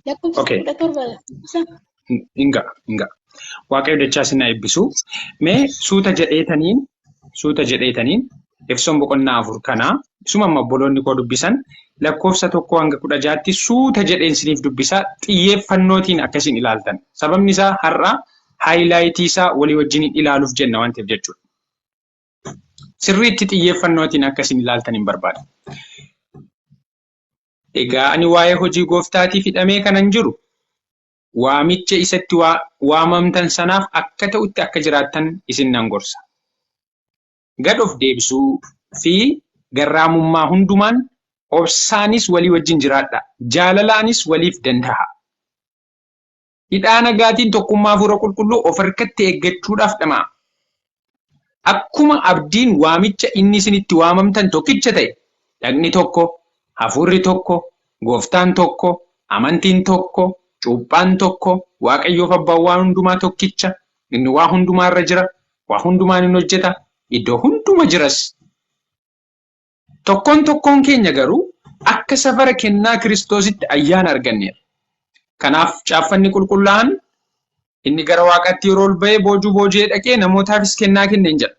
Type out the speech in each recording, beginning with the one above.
Lakkoofsa Okay. kudha torba isa Inga, inga. Waaqayyo dachaa isin haa eebbisu. Mee suuta jedheetaniin, suuta jedheetaniin Efesoon boqonnaa afur kana isuma amma obboloonni koo dubbisan lakkoofsa tokkoo hanga kudha jaatti suuta jedheen isiniif dubbisaa xiyyeeffannootiin akkasiin ilaaltan. Sababni isaa har'a haayilaayitii isaa walii wajjin ilaaluuf jenna waan ta'eef jechuudha. Sirriitti xiyyeeffannootiin akkasiin ilaaltan hin barbaada. Egaa ani waa'ee hojii gooftaatiif hidhamee kanan jiru, waamicha isa itti waamamtan sanaaf akka ta'utti akka jiraattan isin nan gorsa. Gad of deebisuu fi garraamummaa hundumaan, obsaanis walii wajjin jiraadhaa, jaalalaanis waliif danda'aa. Hidhaa nagaatiin tokkummaa Hafuura Qulqulluu of harkatti eeggachuudhaaf dhama'aa. Akkuma abdiin waamicha inni isin itti waamamtan tokkicha ta'e, dhagni tokko, hafuurri tokko, gooftaan tokko, amantiin tokko, cuuphaan tokko, Waaqayyoof abbaan waan hundumaa tokkicha, inni waa hundumaa irra jira, waa hundumaan in hojjeta, iddoo hunduma jiras. Tokkoon tokkoon keenya garuu akka safara kennaa Kiristoositti ayyaana arganneerra. Kanaaf Caaffanni Qulqullaa'aan, Inni gara waaqaatti yeroo ol ba'e boojuu booji'ee dhaqee namootaafis kennaa kenne in jedha.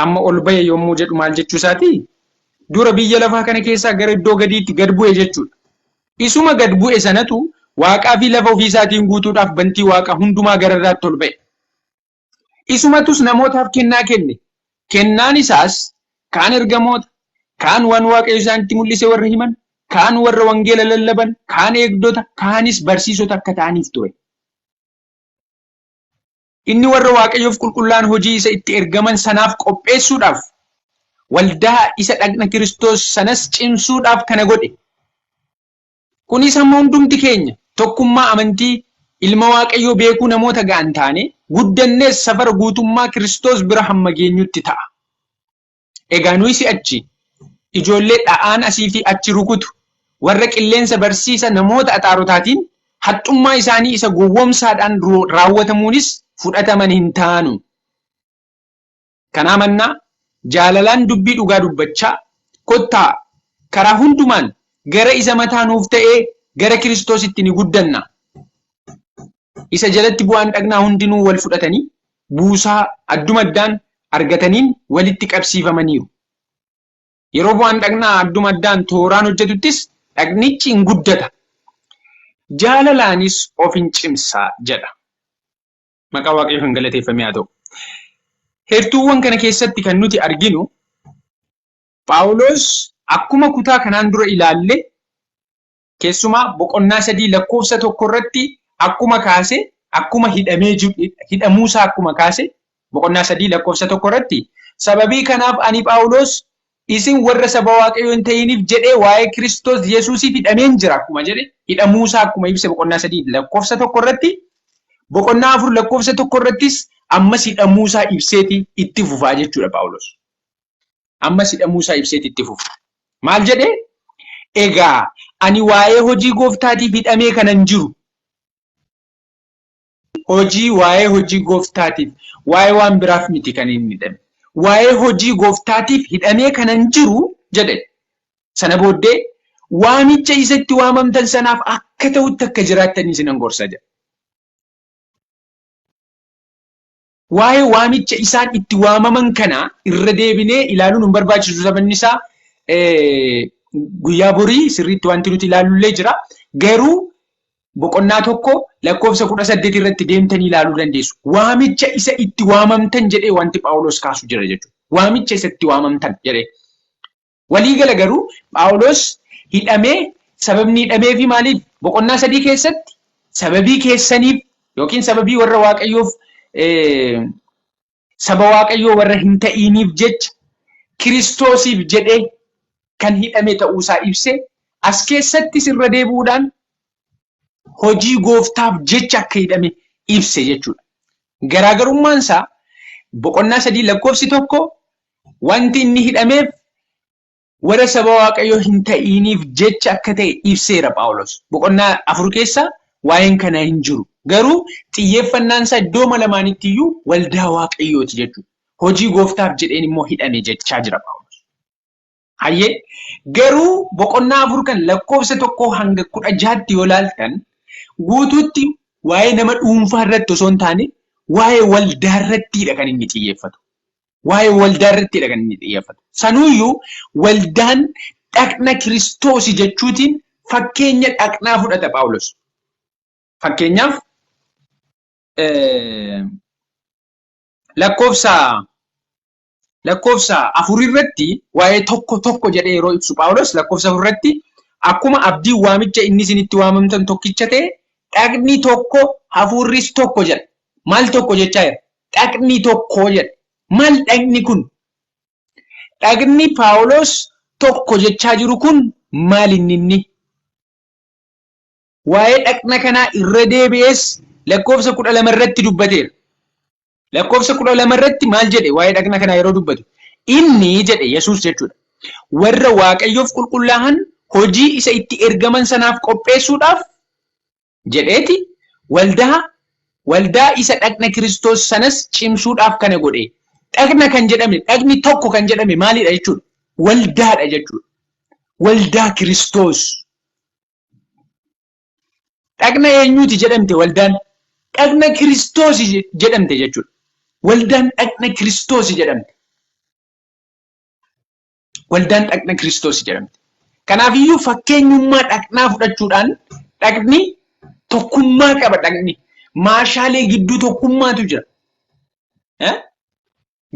Amma ol ba'e yommuu jedhu maal jechuu isaati? Dura biyya lafaa kana keessaa gara iddoo gadiitti gad bu'e jechuudha. Isuma gad bu'e sanatu waaqaa fi lafa ofii isaatiin guutuudhaaf bantii waaqaa hundumaa gara irraatti ol ba'e. Isumatus namootaaf kennaa kenne. Kennaan isaas kaan ergamoota, kaan waan Waaqayyo isaanitti mul'ise warra himan, kaan warra wangeela lallaban, kaan eegdota, kaanis barsiisota akka ta'aniif ture. Inni warra Waaqayyoof qulqullaa'an hojii isa itti ergaman sanaaf qopheessuudhaaf, waldaa isa dhagna Kiristoos sanas cimsuudhaaf kana godhe. Kunis hamma hundumti keenya tokkummaa amantii Ilma Waaqayyoo beekuu namoota ga'an taanee, guddannees safara guutummaa Kiristoos bira hamma geenyutti ta'a. Egaa nuyi si'achi ijoollee dha'aan asii fi achi rukutu, warra qilleensa barsiisa namoota axaarotaatiin, haxxummaa isaanii isa gowwoomsaadhaan raawwatamuunis fudhataman hin taanu. Kanaa mannaa, jaalalaan dubbii dhugaa dubbachaa, kottaa, karaa hundumaan gara isa mataa nuuf ta'ee, gara Kiristoositti ni guddanna. Isa jalatti bu'aan dhagnaa hundinuu wal fudhatanii, buusaa adduma addaan argataniin walitti qabsiifamaniiru. Yeroo bu'aan dhagnaa adduma addaan tooraan hojjetuttis, dhagnichi in guddata, jaalalaanis of in cimsa jedha. Maqaa Waaqayyoo kan galateeffame haa ta'u. Heertuuwwan kana keessatti kan nuti arginu Phaawulos akkuma kutaa kanaan dura ilaalle keessumaa boqonnaa sadii lakkoofsa tokko irratti akkuma kaase akkuma hidhamee hidhamuusaa akkuma kaase boqonnaa sadii lakkoofsa tokko irratti sababii kanaaf ani Phaawulos Isin warra saba Waaqayyoo hin ta'iniif jedhee waa'ee Kiristoos Yesuusiif hidhameen jira akkuma jedhe hidhamuusaa akkuma ibse boqonnaa 3 lakkoofsa tokko irratti boqonnaa 4 lakkoofsa tokko irrattis ammas hidhamuusaa ibseeti itti fufaa jechuudha Phaawulos. Ammas hidhamuusaa ibseeti itti fufa. Maal jedhe? Egaa ani waa'ee hojii gooftaatiif hidhamee kanan jiru Hojii waa'ee hojii gooftaatiif waa'ee waan biraaf miti kan inni hidhame. Waa'ee hojii gooftaatiif hidhamee kanan jiru jedhe. Sana booddee waamicha isa itti waamamtan sanaaf akka ta'utti akka jiraattan isinan gorsa jedha. Waa'ee waamicha isaan itti waamaman kana irra deebinee ilaaluun hin barbaachisu sababni isaa guyyaa borii sirriitti wanti nuti ilaalullee jira. Garuu boqonnaa tokko lakkoofsa kudha saddeet irratti deemtanii ilaaluu dandeessu. Waamicha isa itti waamamtan jedhee wanti Phaawulos kaasu jira jechuudha. Waamicha isa itti waamamtan jedhee. Walii gala garuu Phaawuloos hidhamee sababni hidhameefi maaliif? Boqonnaa sadii keessatti sababii keessaniif yookiin sababii warra Waaqayyoof saba Waaqayyoo warra hin ta'iiniif jecha Kiristoosiif jedhee kan hidhame ta'uusaa ibse, as keessattis irra deebi'uudhaan hojii gooftaaf jecha akka hidhame ibse jechuudha. Garaagarummaan isaa boqonnaa sadii lakkoofsi tokko wanti inni hidhameef warra saba waaqayyoo hin ta'iiniif jecha akka ta'e ibseera Phaawulos. Boqonnaa afur keessa waa'een kana hin jiru. Garuu xiyyeeffannaan isaa iddoo lamaanitti iyyuu waldaa waaqayyooti jechuudha. Hojii gooftaaf jedheen immoo hidhame jechaa jira Phaawulos. Hayyee garuu boqonnaa afur kan lakkoofsa tokkoo hanga kudha jaatti yoo laaltan guutuutti waa'ee nama dhuunfaa irratti osoo hin taane waa'ee waldaa irrattiidha kan inni xiyyeeffatu. Waa'ee waldaa irrattiidha kan inni xiyyeeffatu. Sanuuyyuu waldaan dhaqna kiristoosi jechuutiin fakkeenya dhaqnaa fudhata Phaawulos. Fakkeenyaaf lakkoofsa lakkoofsa afur irratti waa'ee tokko tokko jedhee yeroo ibsu Phaawulos lakkoofsa afur irratti akkuma abdiin waamicha inni isinitti waamamtan tokkicha ta'e dhaqni tokko hafuurris tokko jedha. Maal tokko jechaa jira? Dhaqni tokko jedha. Maal dhaqni kun? Dhaqni Phaawulos tokko jechaa jiru kun maal inni inni? Waa'ee dhaqna kanaa irra deebi'ees lakkoofsa kudha lama irratti dubbateera. Lakkoofsa kudha lama irratti maal jedhe waa'ee dhaqna kanaa yeroo dubbatu? Inni jedhe Yesuus jechuudha. Warra Waaqayyoof qulqullaa'an hojii isa itti ergaman sanaaf qopheessuudhaaf jedheeti waldaa waldaa isa dhaqna Kiristoos sanas cimsuudhaaf kana godhe. Dhaqna kan jedhame dhaqni tokko kan jedhame maalidha jechuudha? Waldaadha jechuudha. Waldaa Kiristoos. Dhaqna eenyuuti jedhamte waldaan? Dhaqna Kiristoos jedhamte jechuudha. Waldaan dhaqna Kiristoos jedhamte. Waldaan dhaqna Kiristoos jedhamte. Kanaafiyyuu fakkeenyummaa dhaqnaa fudhachuudhaan dhaqni tokkummaa qaba dhaqni. Maashaalee gidduu tokkummaatu jira.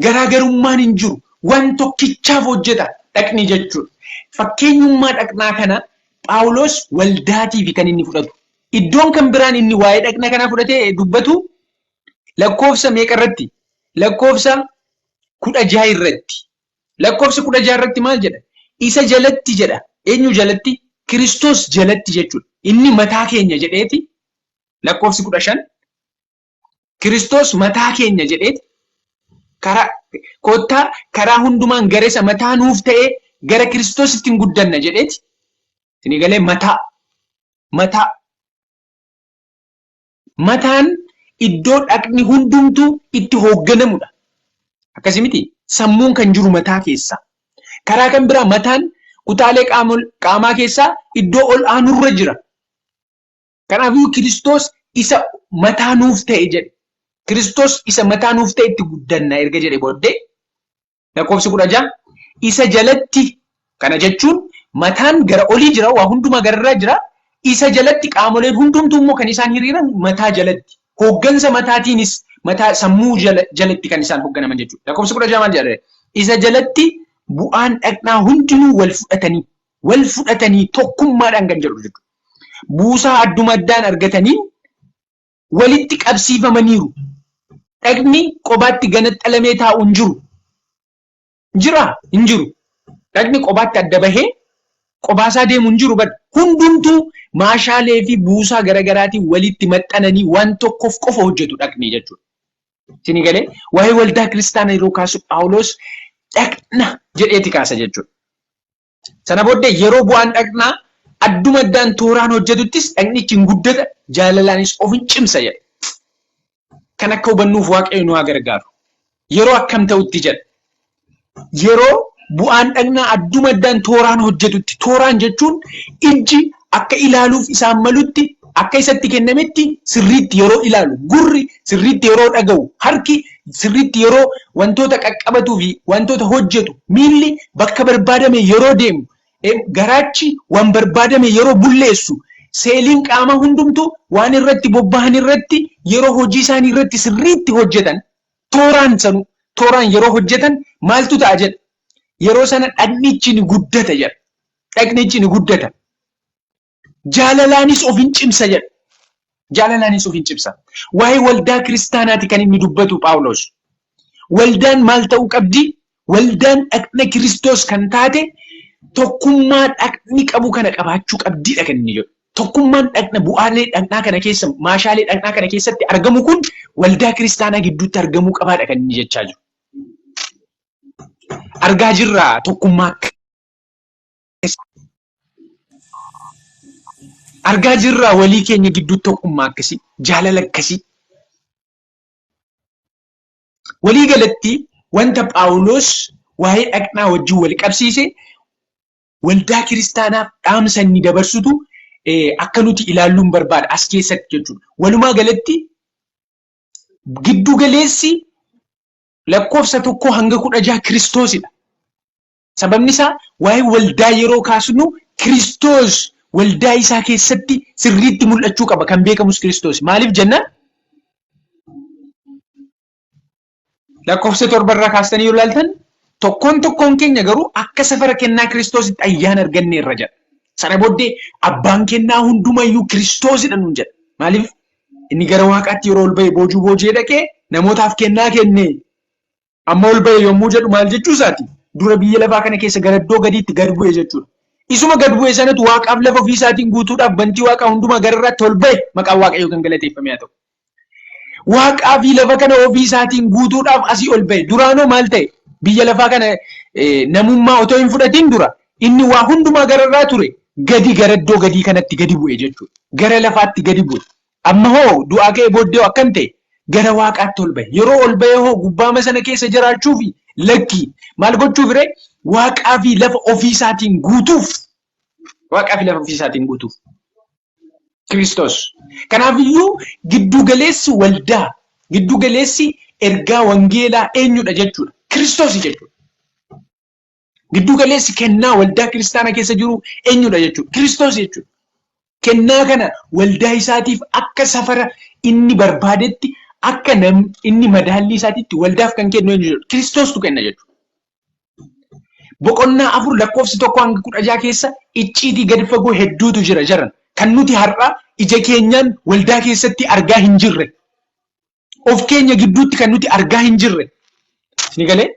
Garaagarummaan hin jiru. Waan tokkichaaf hojjeta dhaqni jechuudha. Fakkeenyummaa dhaqnaa kana Phaawulos waldaatiif kan inni fudhatu. Iddoon kan biraan inni waa'ee dhaqna kanaa fudhatee dubbatu lakkoofsa meeqa irratti? Lakkoofsa kudha jaha irratti. Lakkoofsa kudha jaha irratti maal jedha? Isa jalatti jedha. Eenyu jalatti? Kiristoos jalatti jechuudha. Inni mataa keenya jedheeti lakkoofsi kudha shan Kiristoos mataa keenya jedhee karaa kottaa karaa hundumaan gara isa mataa nuuf ta'ee gara Kiristoos ittiin guddanna jedheeti. Isinii galee mataa mataa mataan iddoo dhaqni hundumtuu itti hoogganamudha. Akkasii miti sammuun kan jiru mataa keessa. Karaa kan biraa mataan kutaalee qaamaa keessaa iddoo ol aanurra jira. Kanaafuu Kiristoos isa mataa nuuf ta'e jedhe. Kiristoos isa mataa nuuf ta'e itti guddanna erga jedhe booddee lakkoofsi kudha ja'a isa jalatti kana jechuun mataan gara olii jira waa hundumaa gararraa jira isa jalatti qaamoleen hundumtuu immoo kan isaan hiriiran mataa jalatti hooggansa mataatiinis mataa sammuu jalatti kan isaan hoogganaman jechuudha. Lakkoofsi kudha ja'a maal jedha? Isa jalatti bu'aan dhaqnaa hundinuu wal fudhatanii wal fudhatanii tokkummaadhaan kan jedhu jechuudha. Buusaa adduma addaan argataniin walitti qabsiifamaniiru. Dhagni qobaatti ganaxxalamee taa'u hin jiru. Jira hin jiru. Dhagni qobaatti adda bahee qobaasaa deemu hin jiru bada. Hundumtuu maashaalee fi buusaa garaagaraatiin walitti maxxananii waan tokkoof qofa hojjetu dhagni jechuudha. Isinii galee waa'ee waldaa kiristaanaa yeroo kaasu Phaawulos dhagna jedheeti kaasa jechuudha. Sana booddee yeroo bu'aan dhaqnaa adduma addaan tooraan hojjetuttis dhaqnichi hin guddata, jaalalaanis of hin cimsa jedha. Kan akka hubannuuf Waaqayyo nu haa gargaaru. Yeroo akkam ta'utti jedha. Yeroo bu'aan dhagnaa adduma addaan tooraan hojjetutti. Tooraan jechuun ijji akka ilaaluuf isaan malutti akka isatti kennametti sirriitti yeroo ilaalu gurri sirriitti yeroo dhaga'u harki sirriitti yeroo wantoota qaqqabatuu fi wantoota hojjetu miilli bakka barbaadame yeroo deemu garaachi waan barbaadame yeroo bulleessu seeliin qaamaa hundumtuu waan irratti bobbahan irratti yeroo hojii isaanii irratti sirriitti hojjetan tooraan sanu tooraan yeroo hojjetan maaltu ta'a jedha yeroo sana dhagnichi ni guddata jedha dhagnichi ni guddata. Jaalalaanis of hin cimsa jedha. Jaalalaanis of hin cimsa. Waa'ee waldaa kiristaanaati kan inni dubbatu Phaawulos. Waldaan maal ta'uu qabdi? Waldaan dhagna Kiristoos kan taate tokkummaa dhagni qabu kana qabaachuu qabdiidha kan inni jedhu. Tokkummaan dhagna bu'aalee dhagnaa kana keessa maashaalee dhagnaa kana keessatti argamu kun waldaa kiristaanaa gidduutti argamuu qabaadha kan inni jechaa jiru. Argaa jirra tokkummaa argaa jirraa walii keenya gidduu tokkummaa akkasii jaalala akkasii walii galatti wanta phaawuloos waa'ee dhaqnaa wajjin wal qabsiise waldaa kiristaanaaf dhaamsa inni dabarsutu akka nuti ilaalluun barbaada as keessatti jechuudha. Walumaa galatti giddu galeessi lakkoofsa tokkoo hanga kudha jaha kiristoosidha. Sababni isaa waa'ee waldaa yeroo kaasnu Kiristoos waldaa isaa keessatti sirriitti mul'achuu qaba. Kan beekamus Kiristoos. Maaliif jennaan? Lakkoofsa torba irraa kaastanii yoo ilaaltan tokkoon tokkoon keenya garuu akka safara kennaa Kiristoositti ayyaana arganneerra jedha. Sana booddee abbaan kennaa hundumayyuu Kiristoosidha nuun jedha. Maaliif? Inni gara waaqaatti yeroo ol ba'e boojuu boojee dhaqee namootaaf kennaa kenne. Amma ol ba'e yommuu jedhu maal jechuu isaati? Dura biyya lafaa kana keessa gara iddoo gadiitti gad bu'e jechuudha. Isuma gad bu'e sanatu waaqaaf lafa ofii isaatiin guutuudhaaf bantii waaqaa hundumaa gara irraatti ol ba'e maqaan waaqayyoo kan galateeffame haa ta'u. Waaqaa fi lafa kana ofii isaatiin guutuudhaaf asii ol ba'e. Duraanoo maal ta'e? Biyya lafaa kana namummaa otoo hin fudhatiin dura inni waa hundumaa gara irraa ture gadi gara iddoo gadii kanatti gadi bu'e jechuudha. Gara lafaatti gadi bu'e. Amma hoo du'aa ka'ee booddee hoo akkam ta'e? Gara waaqaatti ol ba'e. Yeroo ol ba'ee hoo gubbaama sana keessa jiraachuufi? Lakkii. Maal gochuuf ree? Waaqaa fi lafa ofii isaatiin guutuuf. Waaqaa fi lafa ofii isaatiin guutuuf. Kiristoos. Kanaaf iyyuu giddu galeessi waldaa, giddu galeessi ergaa wangeelaa eenyudha jechuudha? Kiristoosi jechuudha. Gidduu galeessi kennaa waldaa kiristaana keessa jiru eenyudha jechuudha? Kiristoos jechuudha. Kennaa kana waldaa isaatiif akka safara inni barbaadetti akka nam inni madaallii isaatitti waldaaf kan kennu eenyu jechuudha? Kiristoostu kenna jechuudha. Boqonnaa afur lakkoofsi tokko hanga kudha jaha keessa icciitii gadi fagoo hedduutu jira jaran. Kan nuti har'a ija keenyaan waldaa keessatti argaa hin jirre. of keenya gidduutti kan nuti argaa hin jirre ni galee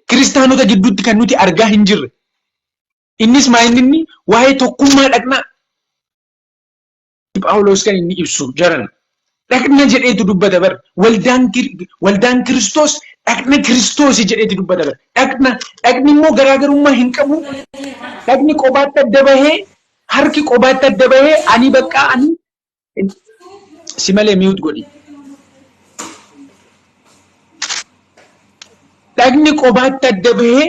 kiristaanota gidduutti kan nuti argaa hin jirre innis maa inni inni waa'ee tokkummaa dhaqnaa Phaawulos kan inni ibsu jaran dhaqna jedheetu dubbata bar waldaan kir- waldaan kiristoos dhaqna kiristoosi jedheetu dubbata bar dhaqna dhaqni immoo garaagarummaa hin qabu dhaqni qobaatti adda bahee harki qobaatti adda bahee ani baqqaa ani Si malee mute godhi. Dhagni qobaatti adda bahee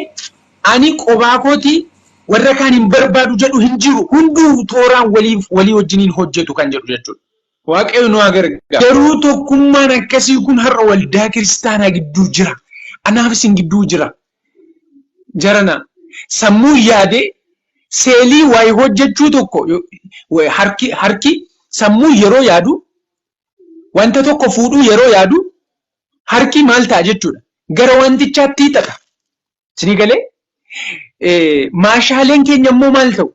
ani qobaa kooti warra kaan hin barbaadu jedhu hin jiru. Hunduu tooraan waliif walii wajjiniin hojjetu kan jedhu jechuudha. Waaqayyo nu haa gargaaru. Garuu tokkummaan akkasii kun har'a waldaa kiristaanaa gidduu jira. Anaaf isin gidduu jira. jarana sammuun yaadee seelii wayi hojjechuu tokko harki harki sammuu yeroo yaadu wanta tokko fuudhuu yeroo yaadu harki maal ta'a jechuudha gara wantichaatti hiixata isinii galee maashaaleen keenya immoo maal ta'u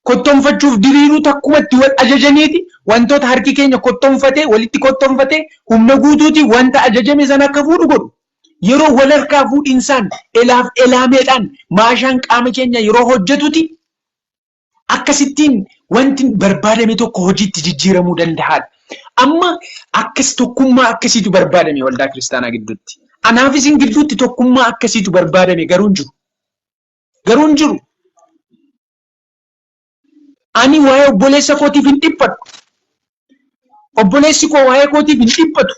kottonfachuuf diriiruu takkuma itti wal ajajaniiti wantoota harki keenya kottonfatee walitti kottonfatee humna guutuutiin wanta ajajame sana akka fuudhu godhu. Yeroo wal harkaa fuudhinsaan elaaf elaameedhaan maashaan qaama keenya yeroo hojjetuti akkasittiin wanti barbaadame tokko hojiitti jijjiiramuu danda'aadha. Amma akkas tokkummaa akkasiitu barbaadame waldaa kiristaanaa gidduutti. Anaaf isin gidduutti tokkummaa akkasiitu barbaadame garuu hin jiru. Garuu hin jiru. Ani waa'ee obboleessa kootiif hin dhiphadhu. Obboleessi koo waa'ee kootiif hin dhiphatu.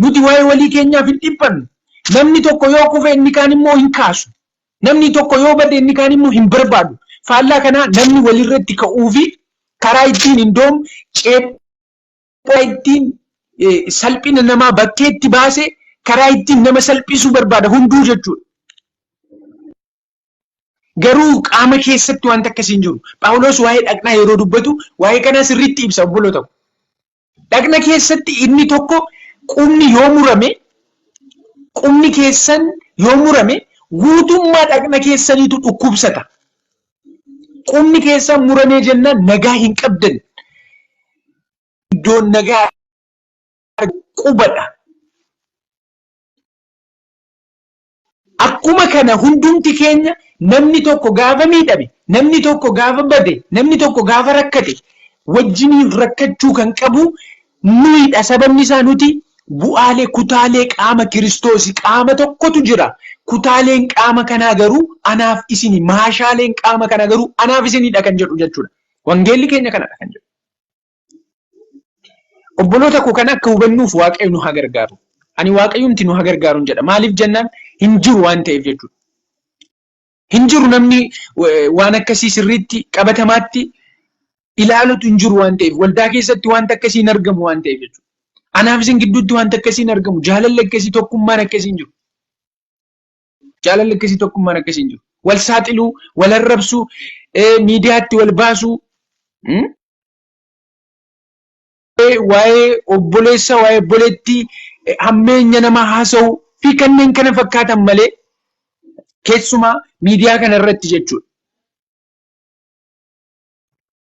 Nuti waa'ee walii keenyaaf hin dhiphannu. Namni tokko yoo kufe inni kaan immoo hin kaasu. Namni tokko yoo bade inni kaan immoo hin barbaadu. Faallaa kanaa namni walirratti ka'uu fi karaa ittiin hin doomu ceephoo ittiin salphina namaa bakkeetti baase karaa ittiin nama salphisuu barbaada hunduu jechuudha. Garuu qaama keessatti wanta akkasii hin jiru. Phaawulos waa'ee dhaqnaa yeroo dubbatu waa'ee kanaa sirriitti ibsa obboloota koo. Dhaqna keessatti inni tokko qubni yoo murame qubni keessan yoo murame guutummaa dhaqna keessaniitu dhukkubsata. Qubni keessan muramee jennaan nagaa hin qabdan. Iddoon nagaa qubadha. Akkuma kana hundumti keenya namni tokko gaafa miidhame, namni tokko gaafa bade, namni tokko gaafa rakkate wajjiniin rakkachuu kan qabu nuyidha. Sababni isaa nuti bu'aalee, kutaalee qaama Kiristoosi. Qaama tokkotu jira. Kutaaleen qaama kanaa garuu anaaf isini. Maashaaleen qaama kanaa garuu anaaf isinidha kan jedhu jechuudha. Wangeelli keenya kanadha kan jedhu. Obboloota koo kana akka hubannuuf Waaqayyo nu haa gargaaru. Ani Waaqayyumti nu haa gargaaru jedha. Maaliif jennaan hin jiru waan ta'eef jechuudha. Hin jiru namni waan akkasii sirriitti qabatamaatti ilaalutu hin jiru waan ta'eef waldaa keessatti wanta akkasii hin argamu waan ta'eef jechuudha. Anaaf isin gidduutti wanta akkasii hin argamu jaalalli akkasii tokkummaan akkasii hin jiru. Jaalalli akkasii tokkummaan akkasii hin jiru. Wal saaxiluu, wal arrabsuu, miidiyaatti wal baasuu. Waa'ee obboleessa, waa'ee obboleettii hammeenya nama haasa'uu fi kanneen kana fakkaatan malee keessumaa miidiyaa kana irratti jechuudha.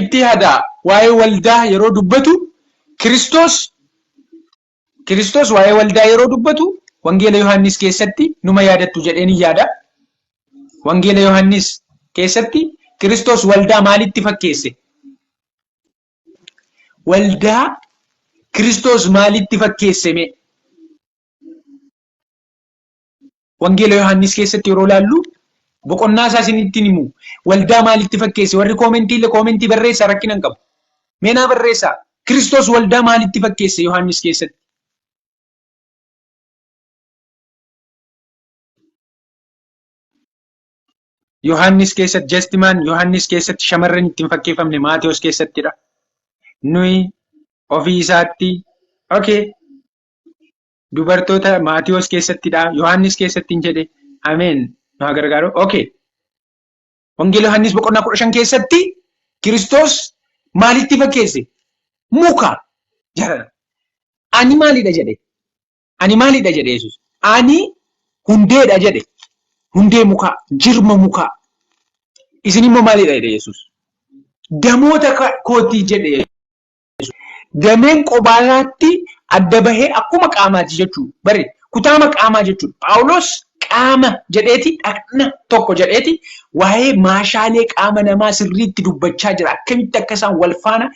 itti yadaa waa'ee waldaa yeroo dubbatu Kiristoos Kiristoos waa'ee waldaa yeroo dubbatu Wangeela Yohaannis keessatti numa yaadattu jedheen yaada. Wangeela Yohaannis keessatti Kiristoos waldaa maalitti fakkeesse? Waldaa Kiristoos maalitti fakkeesseme? Wangeela Yohaannis keessatti yeroo laallu boqonnaa isaa isinitti himu waldaa maalitti fakkeesse warri koomentii illee koomentii barreessaa rakkina hin qabu. Meenaa barreessaa Kiristoos waldaa maalitti fakkeesse Yohaannis keessatti? Yohaannis keessatti jastimaan Yohaannis keessatti shamarran ittiin fakkeeffamne Maatewos keessattidha. Nuyi ofii isaatti okay dubartoota Maatiyoos keessattidha. Yohaannis keessatti hin jedhe. Ameen. Nu haa gargaaru. Okay. Wangeela Yohaannis boqonnaa kudha shan keessatti Kiristoos maalitti fakkeesse? Muka jedhadha. Ani maalidha jedhe? Ani maalidha jedhe Yesuus? Ani hundeedha jedhe. Hundee mukaa, jirma mukaa. Isin immoo maalidha jedhe Yesuus? Damoota kooti jedhe dhiyeessu. Dameen qobaa isaatti adda bahee akkuma qaamaati jechuudha. Bari kutaama qaamaa jechuudha. Phaawulos qaama jedheeti dhaqna tokko jedheeti waa'ee maashaalee qaama namaa sirriitti dubbachaa jira. Akkamitti akka isaan wal faana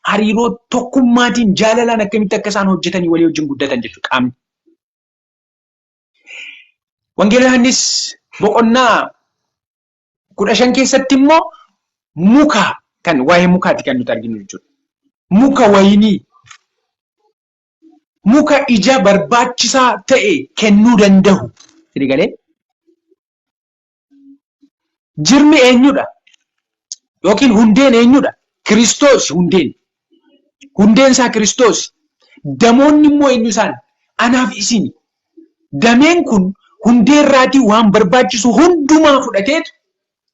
hariiroo tokkummaatiin jaalalaan akkamitti akka isaan hojjetanii walii wajjin guddatan jechuudha qaamni. Wangeela Yohaannis boqonnaa kudha shan keessatti immoo muka kan waa'ee mukaati kan nuti arginu jechuudha. Muka wayinii muka ija barbaachisaa ta'e kennuu danda'u. Sini galee? Jirmi eenyudha? Yookiin hundeen eenyudha? Kiristoos hundeen. Hundeen isaa Kiristoos. Damoonni immoo eenyu isaan? Anaaf isini. Dameen kun hundee irraatii waan barbaachisu hundumaa fudhateetu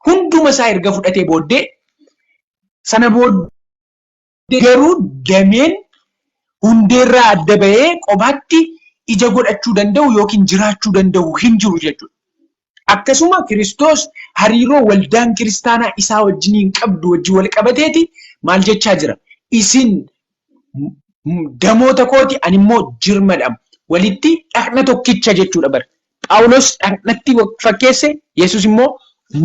hunduma isaa erga fudhatee booddee sana booddee garuu dameen hundee irraa adda bahee qobaatti ija godhachuu danda'u yookiin jiraachuu danda'u hin jiru jechuudha. Akkasuma Kiristoos hariiroo waldaan kiristaanaa isaa wajjiniin qabdu wajjin wal qabateeti maal jechaa jira? Isin damoota kooti ani immoo jirmadha. Walitti dhaqna tokkicha jechuudha bar. Phaawulos dhaqnatti fakkeesse, Yesus immoo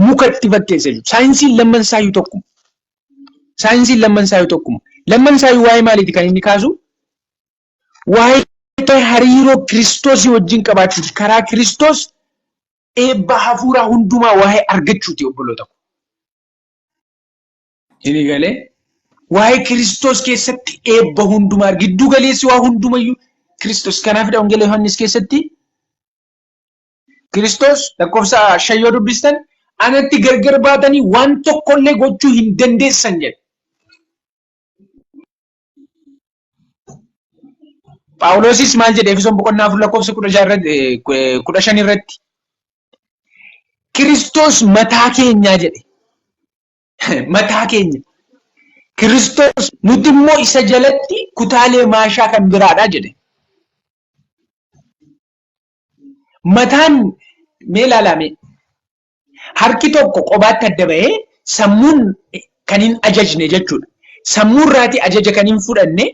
muka itti fakkeesse jechuudha. Saayinsiin lamman isaayyuu tokkuma. Saayinsiin lamman isaayyuu tokkuma. Lamman isaayyuu waa'ee maaliiti kan inni kaasu? Waa'ee hariiroo Kiristoosii wajjin qabaachuuti. Karaa Kiristoos eebba hafuuraa hundumaa waa'ee argachuuti obboloota koo. Isinii galee waa'ee Kiristoos keessatti eebba hundumaa giddu galeessi waa hundumayyuu Kiristoos. Kanaafidha Wangeela Yohaannis keessatti Kiristoos lakkoofsa shan yoo dubbistan anatti gargar baatanii waan tokkollee gochuu hin dandeessan jedhe. Phaawulosis maal jedhe Efesoon boqonnaa afur lakkoofsa kudha jaha irratti eh, eh, kudha shan irratti Kiristoos mataa keenyaa jedhe. Mataa keenya. Kiristoos nuti immoo isa jalatti kutaalee maashaa kan biraadha jedhe. Mataan mee ilaalame Harki tokko qobaatti adda bahee sammuun kan hin ajajne jechuudha. Sammuu irraatii ajaja kan hin fudhanne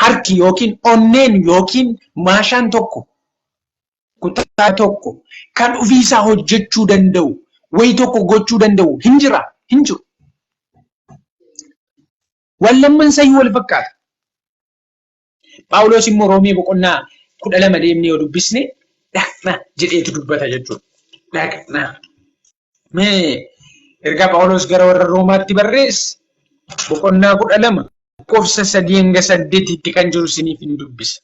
harki yookiin onneen yookiin maashaan tokko kutaa tokko kan ofiisaa hojjechuu danda'u wayi tokko gochuu danda'u hin jira hin jiru. Wallamman sayyuu wal fakkaata. Phaawulos immoo Roomee boqonnaa kudha lama deemnee yoo dubbisne dhaqna jedheetu dubbata jechuudha. Dhaqna. Mee ergaa Phaawulos gara warra Roomaatti barreesse boqonnaa kudha lama lakkoofsa sadii hanga saddeetitti kan jiru isiniif hin dubbisa.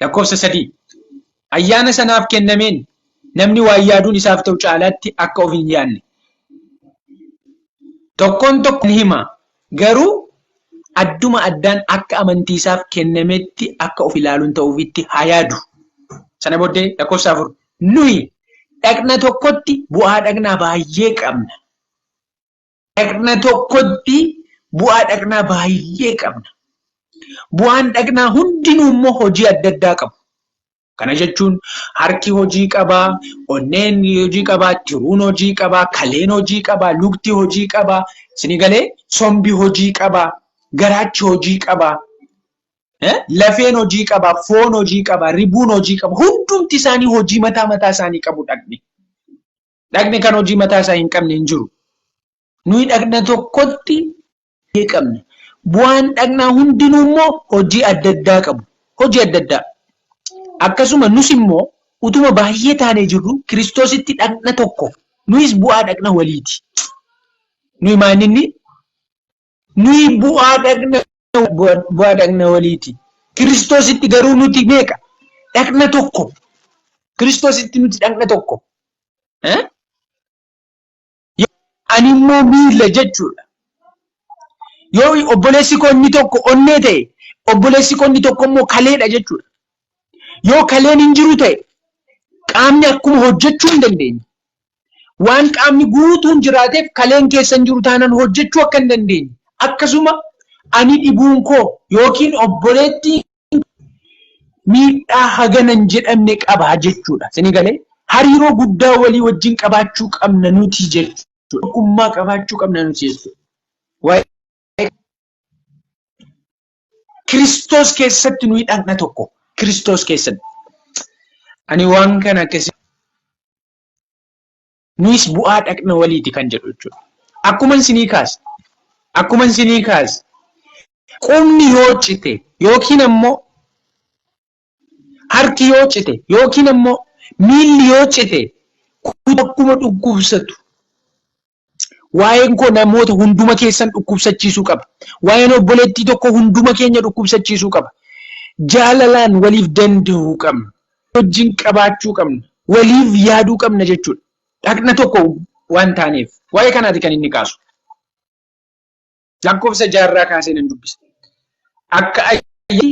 Lakkoofsa sadii ayyaana sanaaf kennameen namni waa yaaduun isaaf ta'u caalaatti akka of hin yaadne. Tokkoon tokko ni hima garuu adduma addaan akka amantii isaaf kennametti akka of ilaaluun ta'uufitti haa yaadu. Sana booddee lakkoofsa afur nuyi dhaqna tokkotti bu'aa dhaqnaa baay'ee qabna. Dhaqna tokkotti bu'aa dhaqnaa baay'ee qabna. Bu'aan dhaqnaa hundinuu immoo hojii adda addaa qabu. Kana jechuun harki hojii qabaa, onneen hojii qabaa, tiruun hojii qabaa, kaleen hojii qabaa, lukti hojii qabaa, isinii galee sombi hojii qabaa, garaachi hojii qabaa, lafeen hojii qabaa, foon hojii qabaa, ribuun hojii qabaa, hundumti isaanii hojii mataa mataa isaanii qabu dhaqni. Dhaqni kan hojii mataa isaa hin qabne hin jiru. Nuyi dhaqna tokkotti ni qabna. Bu'aan dhaqnaa hundinuu immoo hojii adda addaa qabu. Hojii adda addaa. Akkasuma nus immoo utuma baay'ee taanee jirru Kiristoositti dhaqna tokko. Nuyis bu'aa dhaqna waliiti. Nuyi maalinni Nuyi bu'aa dhagna bu'aa dhagna waliiti. Kiristoositti garuu nuti meeqa? Dhagna tokko. Kiristoositti nuti dhagna tokko. Ani immoo miila jechuudha. Yoo obboleessi koo inni tokko onnee ta'e, obboleessi koo inni tokko immoo kaleedha jechuudha. Yoo kaleen hin jiru ta'e qaamni akkuma hojjechuu hin dandeenye. waan qaamni guutuun jiraateef kaleen keessan jiru taanaan hojjechuu akka hin dandeenye akkasuma ani dhibuun koo yookiin obboleettiin miidhaa hagana hin jedhamne qaba jechuudha. Isinii galee hariiroo guddaa walii wajjin qabaachuu qabna nuti jechuudha. Tokkummaa qabaachuu qabna nuti jechuudha. Waa'ee Kiristoos keessatti nuyi dhaqna tokko. Kiristoos keessatti. Ani waan kana akkasii Nuyis bu'aa dhaqna waliiti kan jedhu jechuudha. Akkuma isinii kaase, akkuma isinii kaase, qubni yoo cite yookiin ammoo harki yoo cite yookiin ammoo miilli yoo cite akkuma dhukkubsatu Waa'een koo namoota hunduma keessan dhukkubsachiisuu qaba. Waa'een obboleettii tokko hunduma keenya dhukkubsachiisuu qaba. Jaalalaan waliif danda'uu qabna. Wajjin qabaachuu qabna. Waliif yaaduu qabna jechuudha. Dhaqna tokko waan taaneef. Waa'ee kanaati kan inni kaasu. Lakkoofsa jaarraa kaasee nan dubbisa. Akka ayyaanni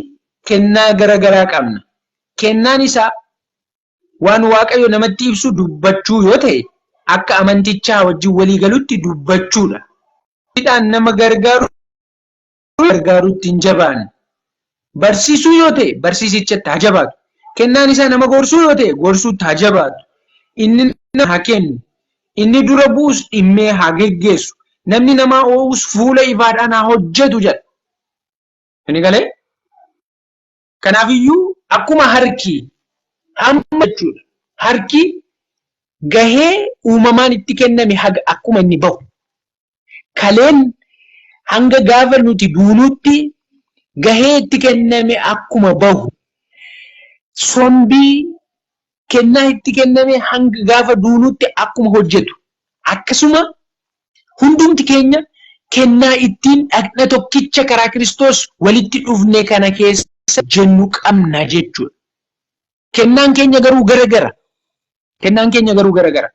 kennaa gara garaa qabna. Kennaan isaa Waan Waaqayyo namatti ibsu dubbachuu yoo ta'e akka amantichaa wajjin walii galutti dubbachuudha. Hidhaan nama gargaaru gargaarutti hin jabaanne. Barsiisuu yoo ta'e barsiisichatti haa jabaatu. Kennaan isaa nama gorsuu yoo ta'e gorsuutti haa jabaatu. Inni nama haa kennu. Inni dura bu'us dhimmee haa geggeessu. Namni namaa oo'us fuula ifaadhaan haa hojjetu jedha. Inni galee Kanaafiyyuu akkuma harki hamma jechuudha. Harki gahee uumamaan itti kenname haga akkuma inni bahu. Kaleen hanga gaafa nuti duunuutti gahee itti kenname akkuma bahu. Sombii kennaa itti kenname hanga gaafa duunuutti akkuma hojjetu, akkasuma hundumti keenya kennaa ittiin dhagna tokkicha karaa Kiristoos walitti dhufne kana keessa hojjennu qabna jechuudha. Kennaan keenya garuu gara gara. Kennaan keenya garuu gara gara.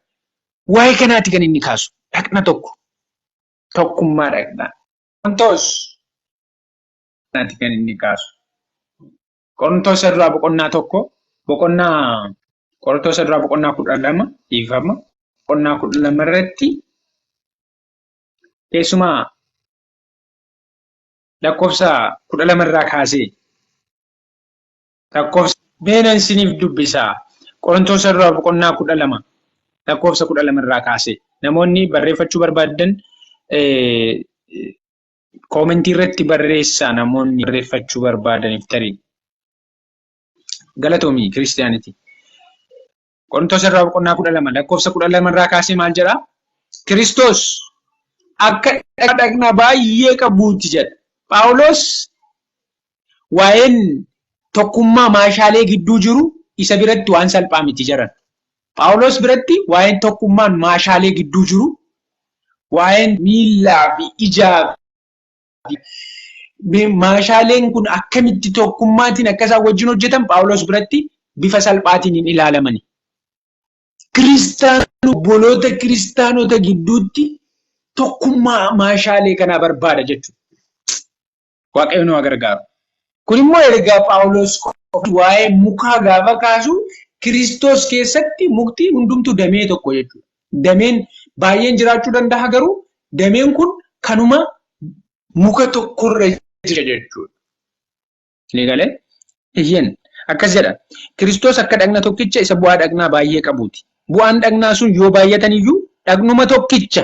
Waa'ee kanaati kan inni kaasu. Dhagna tokko. Tokkummaa dhagnaa. Qorontoos kanaati kan inni kaasu. Qorontoos irraa boqonnaa tokko boqonnaa Qorontoos irraa boqonnaa kudha lama dhiifama boqonnaa kudha lama irratti keessumaa lakkoofsa kudha lama irraa kaasee lakkoofsa beenan isiniif dubbisaa Qorontoos irraa boqonnaa kudha lama lakkoofsa kudha lama irraa kaasee namoonni barreeffachuu barbaadan Koomentii irratti barreessaa namoonni barreeffachuu barbaadaniif tarii. Galatoomii kiristiyaanitii. Qorintoos irraa boqonnaa kudha lama lakkoofsa kudha lama irraa kaasee maal jedhaa? Kiristoos akka dhaqna baay'ee qabuuti jedha. Phaawulos waa'een tokkummaa maashaalee gidduu jiru isa biratti waan salphaa miti jaran. Phaawulos biratti waa'een tokkummaan maashaalee gidduu jiru waa'een miillaa fi ijaa fi me- maashaaleen kun akkamitti tokkummaatiin akka isaan wajjin hojjetan Phaawulos biratti bifa salphaatiin hin ilaalamani. Kiristaanota obboloota kiristaanota gidduutti tokkummaa maashaalee kanaa barbaada jechuudha. Waaqayyo nu haa gargaaru. Kun immoo ergaa Phaawulos qofa waa'ee mukaa gaafa kaasu Kiristoos keessatti mukti hundumtu damee tokko jechuudha. Dameen baay'een jiraachuu danda'a garuu dameen kun kanuma muka tokkorra jira jechuudha. Ni galee? Eeyyeen. Akkas jedha. Kiristoos akka dhagna tokkicha isa bu'aa dhagnaa baay'ee qabuuti. Bu'aan dhagnaa sun yoo baay'atan iyyuu dhagnuma tokkicha.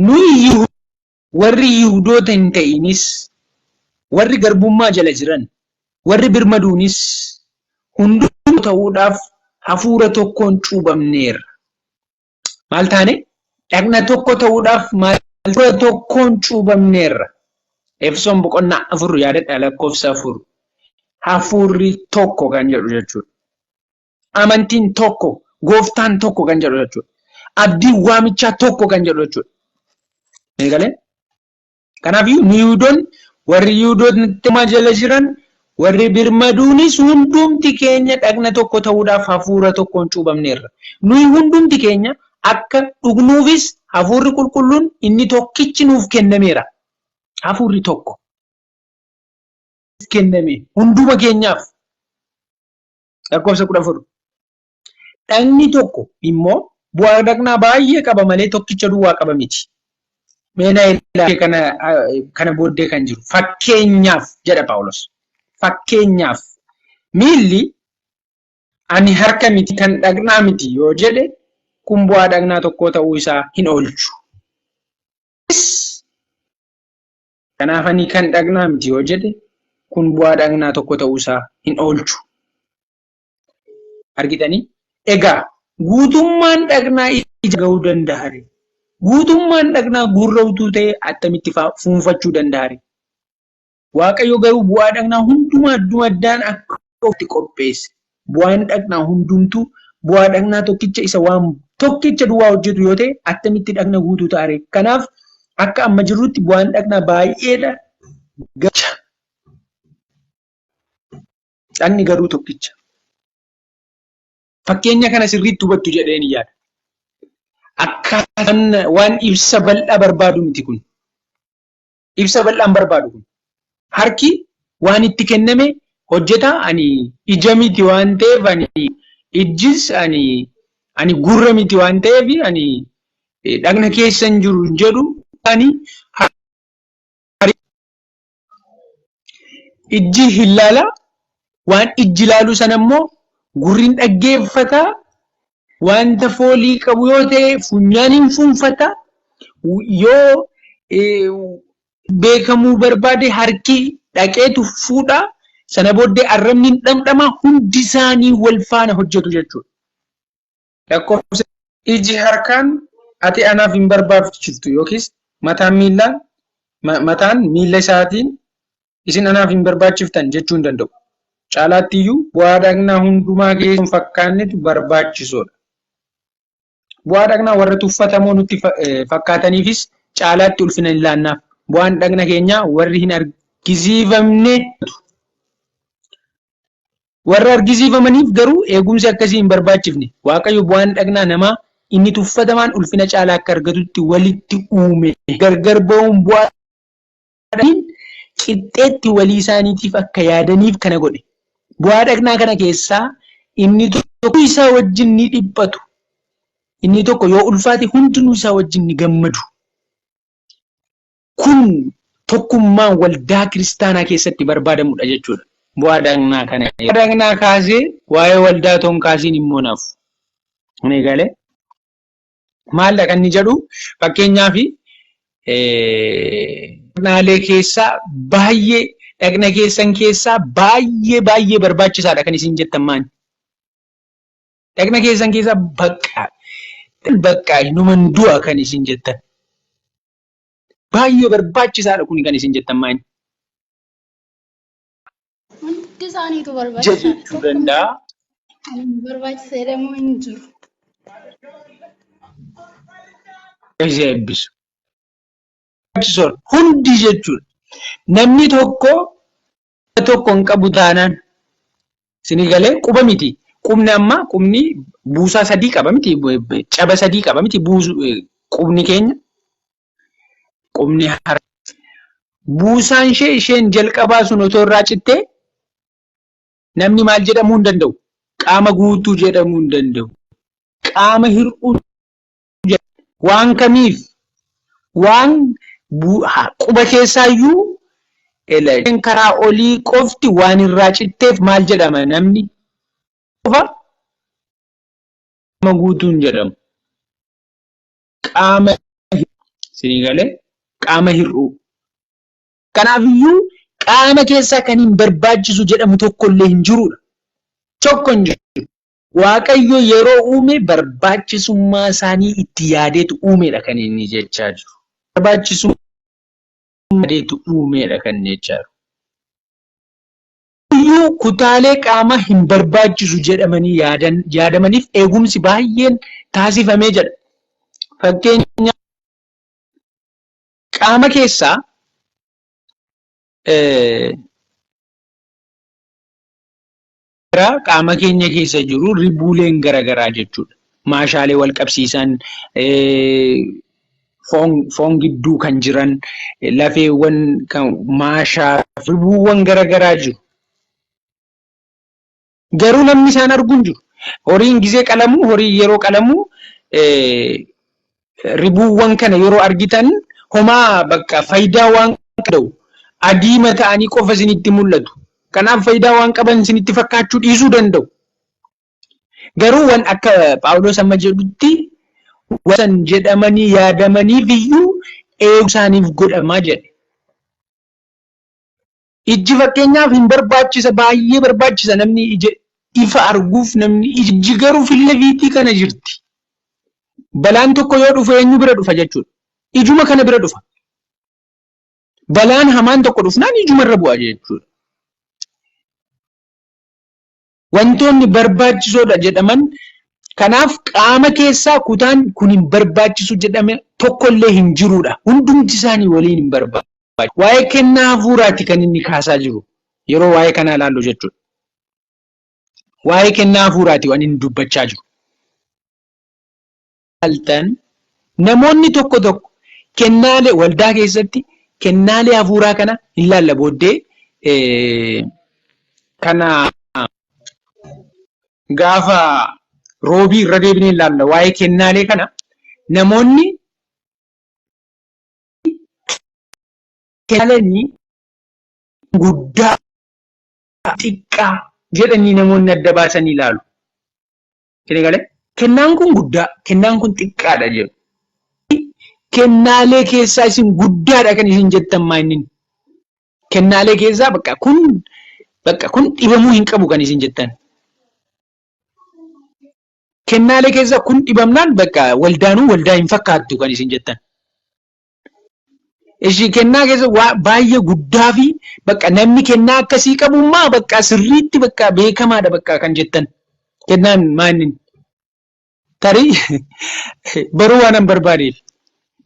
Nuyi Yihudoota, warri Yihudoota hin ta'inis, warri garbummaa jala jiran, warri birmaduunis hunduu tokko ta'uudhaaf hafuura tokkoon cuubamneerra. Maal taane? Dhagna tokko ta'uudhaaf maal hafuura tokkoon cuubamneerra. Efesoon boqonnaa afur yaadadha lakkoofsa afur. Hafuurri tokko kan jedhu jechuudha. Amantiin tokko, gooftaan tokko kan jedhu jechuudha. Abdiin waamichaa tokko kan jedhu jechuudha. Eegalee? Kanaaf nu Yihudoonni warri Yihudootni jala jiran warri birmaduunis hundumti keenya dhagna tokko ta'uudhaaf hafuura tokkoon cuubamneerra. Nuyi hundumti keenya akka dhugnuufis hafuurri qulqulluun inni tokkichi nuuf kennameera. Hafuurri tokko kenname hunduma keenyaaf. Lakkoofsa kudha afur. Dhagni tokko immoo bu'aa dhagnaa baay'ee qaba malee tokkicha duwwaa qaba miti. Mee na ilaalee kana kana booddee kan jiru fakkeenyaaf jedha Phaawulos. Fakkeenyaaf miilli ani harka miti kan dhagnaa miti yoo jedhe kun bu'aa dhagnaa tokkoo ta'uu isaa hin oolchu. Kanaaf ani kan dhagnaa miti yoo jedhe kun bu'aa dhagnaa tokko ta'uu isaa hin oolchu. Argitanii? Egaa guutummaan dhagnaa ija ga'uu danda'are. Guutummaan dhagnaa gurra utuu ta'e attamitti fuunfachuu danda'are. Waaqayyo garuu bu'aa dhagnaa hundumaa addumaddaan akka ofitti qopheesse. Bu'aan dhaqnaa hundumtuu bu'aa dhaqnaa tokkicha isa waan tokkicha duwwaa hojjetu yoo ta'e attamitti dhaqna guutuu ta'a ree? Kanaaf akka amma jirrutti bu'aan dhaqnaa baay'eedha gacha. Dhaqni garuu tokkicha. Fakkeenya kana sirriitti hubattu jedheen yaada. Akkaataan waan ibsa bal'aa barbaadu miti kun. ibsa bal'aan barbaadu kun. Harki waan itti kenname hojjetaa ani ija miti waan ta'eef ani ijjis ani ani gurra miti waan ta'eef ani dhagna keessa hin jiru jedhu ani ijji hin laala waan ijji laalu sana immoo gurriin dhaggeeffata Wanta foolii qabu yoo ta'e funyaaniin fuunfata. Yoo beekamuu barbaade harki dhaqeetu fuudha. Sana booddee arrabni hin dhamdhama hundi isaanii wal faana hojjetu jechuudha. Lakkoofsa iji harkaan ati anaaf hin barbaachiftu yookiis mataan miillaan mataan miila isaatiin isin anaaf hin barbaachiftan jechuu hin danda'u. Caalaatti iyyuu bu'aa dhaqnaa hundumaa keessa hin fakkaannetu barbaachisoodha. Bu'aa dhaqnaa warra tuffatamoo nutti fakkaataniifis caalaatti ulfina hin laannaaf. Bu'aan dhaqna keenyaa warri hin argisiifamne warra argisiifamaniif garuu eegumsi akkasii hin barbaachifne. Waaqayyo bu'aan dhaqnaa namaa inni tuffatamaan ulfina caalaa akka argatutti walitti uume gargar ba'uun bu'aa Rabbiin qixxeetti walii isaaniitiif akka yaadaniif kana godhe. Bu'aa dhaqnaa kana keessaa inni tokko isaa wajjin ni dhiphatu. Inni tokko yoo ulfaate hundinuu isaa wajjin ni gammadu. Kun tokkummaan waldaa kiristaanaa keessatti barbaadamudha jechuudha. Bu'aa dhaqnaa kana bu'aa dhaqnaa kaasee waa'ee waldaa otoo hin kaasiin immoo naaf. Kun eegalee Maaldha kan inni jedhu fakkeenyaaf dhaqnaalee keessaa baay'ee dhaqna keessan keessaa baay'ee baay'ee barbaachisaadha kan isin jettan maani. Dhaqna keessan keessaa bakka bakka numan du'a kan isin jettan. Baay'ee barbaachisaadha kuni kan isin jettan maani. Hundi isaaniitu ja barbaachisaadha. jechuu Tokko malee danda'a. kan hin barbaachise jedhamu hin jiru. Isa eebbisu. Barbaachisoon hundi jechuudha. Namni tokko quba tokko hin qabu taanaan isinii galee quba miti. Qubni amma qubni buusaa sadii qaba miti caba sadii qaba miti buusu qubni keenya Qubni harka buusaan ishee isheen jalqabaa sun otoo irraa cittee namni maal jedhamuu hin danda'u? Qaama guutuu jedhamuu hin danda'u. Qaama hir'uu waan kamiif waan quba keessaayyuu isheen karaa olii qofti waan irraa citteef maal jedhama namni qofa qaama guutuun jedhamu. qaama isinii galee qaama hir'uu. Kanaafiyyuu qaama keessaa kan hin barbaachisu jedhamu tokko illee hin jiruudha. Tokko hin jiru. Waaqayyo yeroo uume barbaachisummaa isaanii itti yaadeetu uumeedha kan inni jechaa jiru. Barbaachisummaa yaadeetu uumeedha kan jechaa jiru. Iyyuu kutaalee qaamaa hin barbaachisu jedhamanii yaadan, yaadamaniif eegumsi baay'een taasifamee jedha. Fakkeenya qaama keessaa qaama keenya keessa jiru ribuuleen garaagaraa jechuudha. Maashaalee wal qabsiisan foon gidduu kan jiran lafeewwan kan maashaa ribuuwwan gara garaa jiru. Garuu namni isaan arguu hin jiru. Horiin gizee qalamu horii yeroo qalamu ribuuwwan kana yeroo argitan homaa bakka faayidaa waan qabu adiima ta'anii qofa isinitti mul'atu. Kanaaf faayidaa waan qaban isinitti fakkaachuu dhiisuu danda'u. Garuu wan akka Phaawulos amma jedhutti wasan jedhamanii yaadamaniif iyyuu eegu isaaniif godhamaa jedhe. Ijji fakkeenyaaf hin barbaachisa baay'ee barbaachisa namni ija ifa arguuf namni ijji garuu filla fiitii kana jirti. Balaan tokko yoo dhufu eenyu bira dhufa jechuudha. Ijuma kana bira dhufa. Balaan hamaan tokko dhufnaan ijuma irra bu'a jechuudha. Wantoonni barbaachisoodha jedhaman kanaaf qaama keessaa kutaan kun hin barbaachisu jedhame tokkollee hin jiruudha. Hundumti isaanii waliin hin barbaachisu. Waa'ee kennaa hafuuraati kan inni kaasaa jiru yeroo waa'ee kanaa ilaallu jechuudha. Waa'ee kennaa hafuuraati waan inni dubbachaa jiru. ilaaltan namoonni tokko tokko kennaalee waldaa keessatti kennaalee hafuuraa kana hin laalla booddee kana gaafa roobii irra deebinee ilaalla waa'ee kennaalee kana namoonni kennaalee guddaa xiqqaa jedhanii namoonni adda baasanii ilaalu. Isin galee kennaan kun guddaa kennaan kun xiqqaadha jedhu. Kennaalee keessaa isin guddaadha kan isin jettan maa inni kennaalee keessaa bakka kun bakka kun dhibamuu hin qabu kan isin jettan. Kennaalee keessaa kun dhibamnaan bakka waldaanuu waldaa hin fakkaattu kan isin jettan. Ishii kennaa keessa waa baay'ee guddaa fi bakka namni kennaa akkasii qabu maa bakka sirriitti bakka beekamaadha bakka kan jettan kennaan maannin tarii baruu waan hin barbaadeef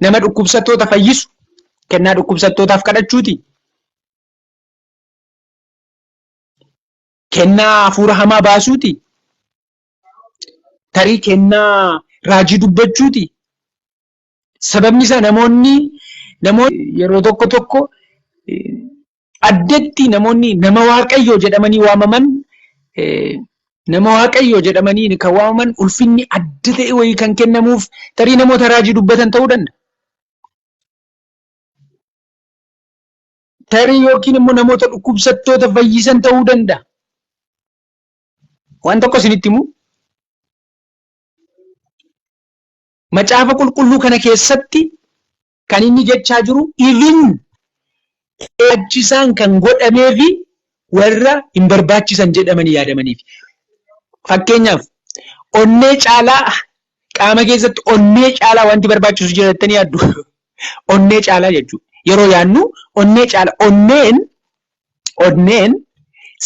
nama dhukkubsattoota fayyisu kennaa dhukkubsattootaaf kadhachuuti. Kennaa hafuura hamaa baasuuti. Tarii kennaa raajii dubbachuuti. Sababni isaa namoonni yeroo tokko tokko addatti namoonni nama waaqayyoo jedhamanii waamaman nama waaqayyoo jedhamanii kan waamaman ulfinni adda ta'e wayii kan kennamuuf tarii namoota raajii dubbatan ta'uu danda'a. Tarii yookiin immoo namoota dhukkubsattoota fayyisan ta'uu danda'a. Waan tokko isinitti himu. Macaafa qulqulluu kana keessatti kan inni jechaa jiru even barbaachisaan kan godhamee fi warra hin barbaachisan jedhamanii yaadamaniif. Fakkeenyaaf onnee caalaa qaama keessatti onnee caalaa wanti barbaachisu jira jettanii yaaddu. Onnee caalaa jechuudha. Yeroo yaadnu onnee caalaa onneen onneen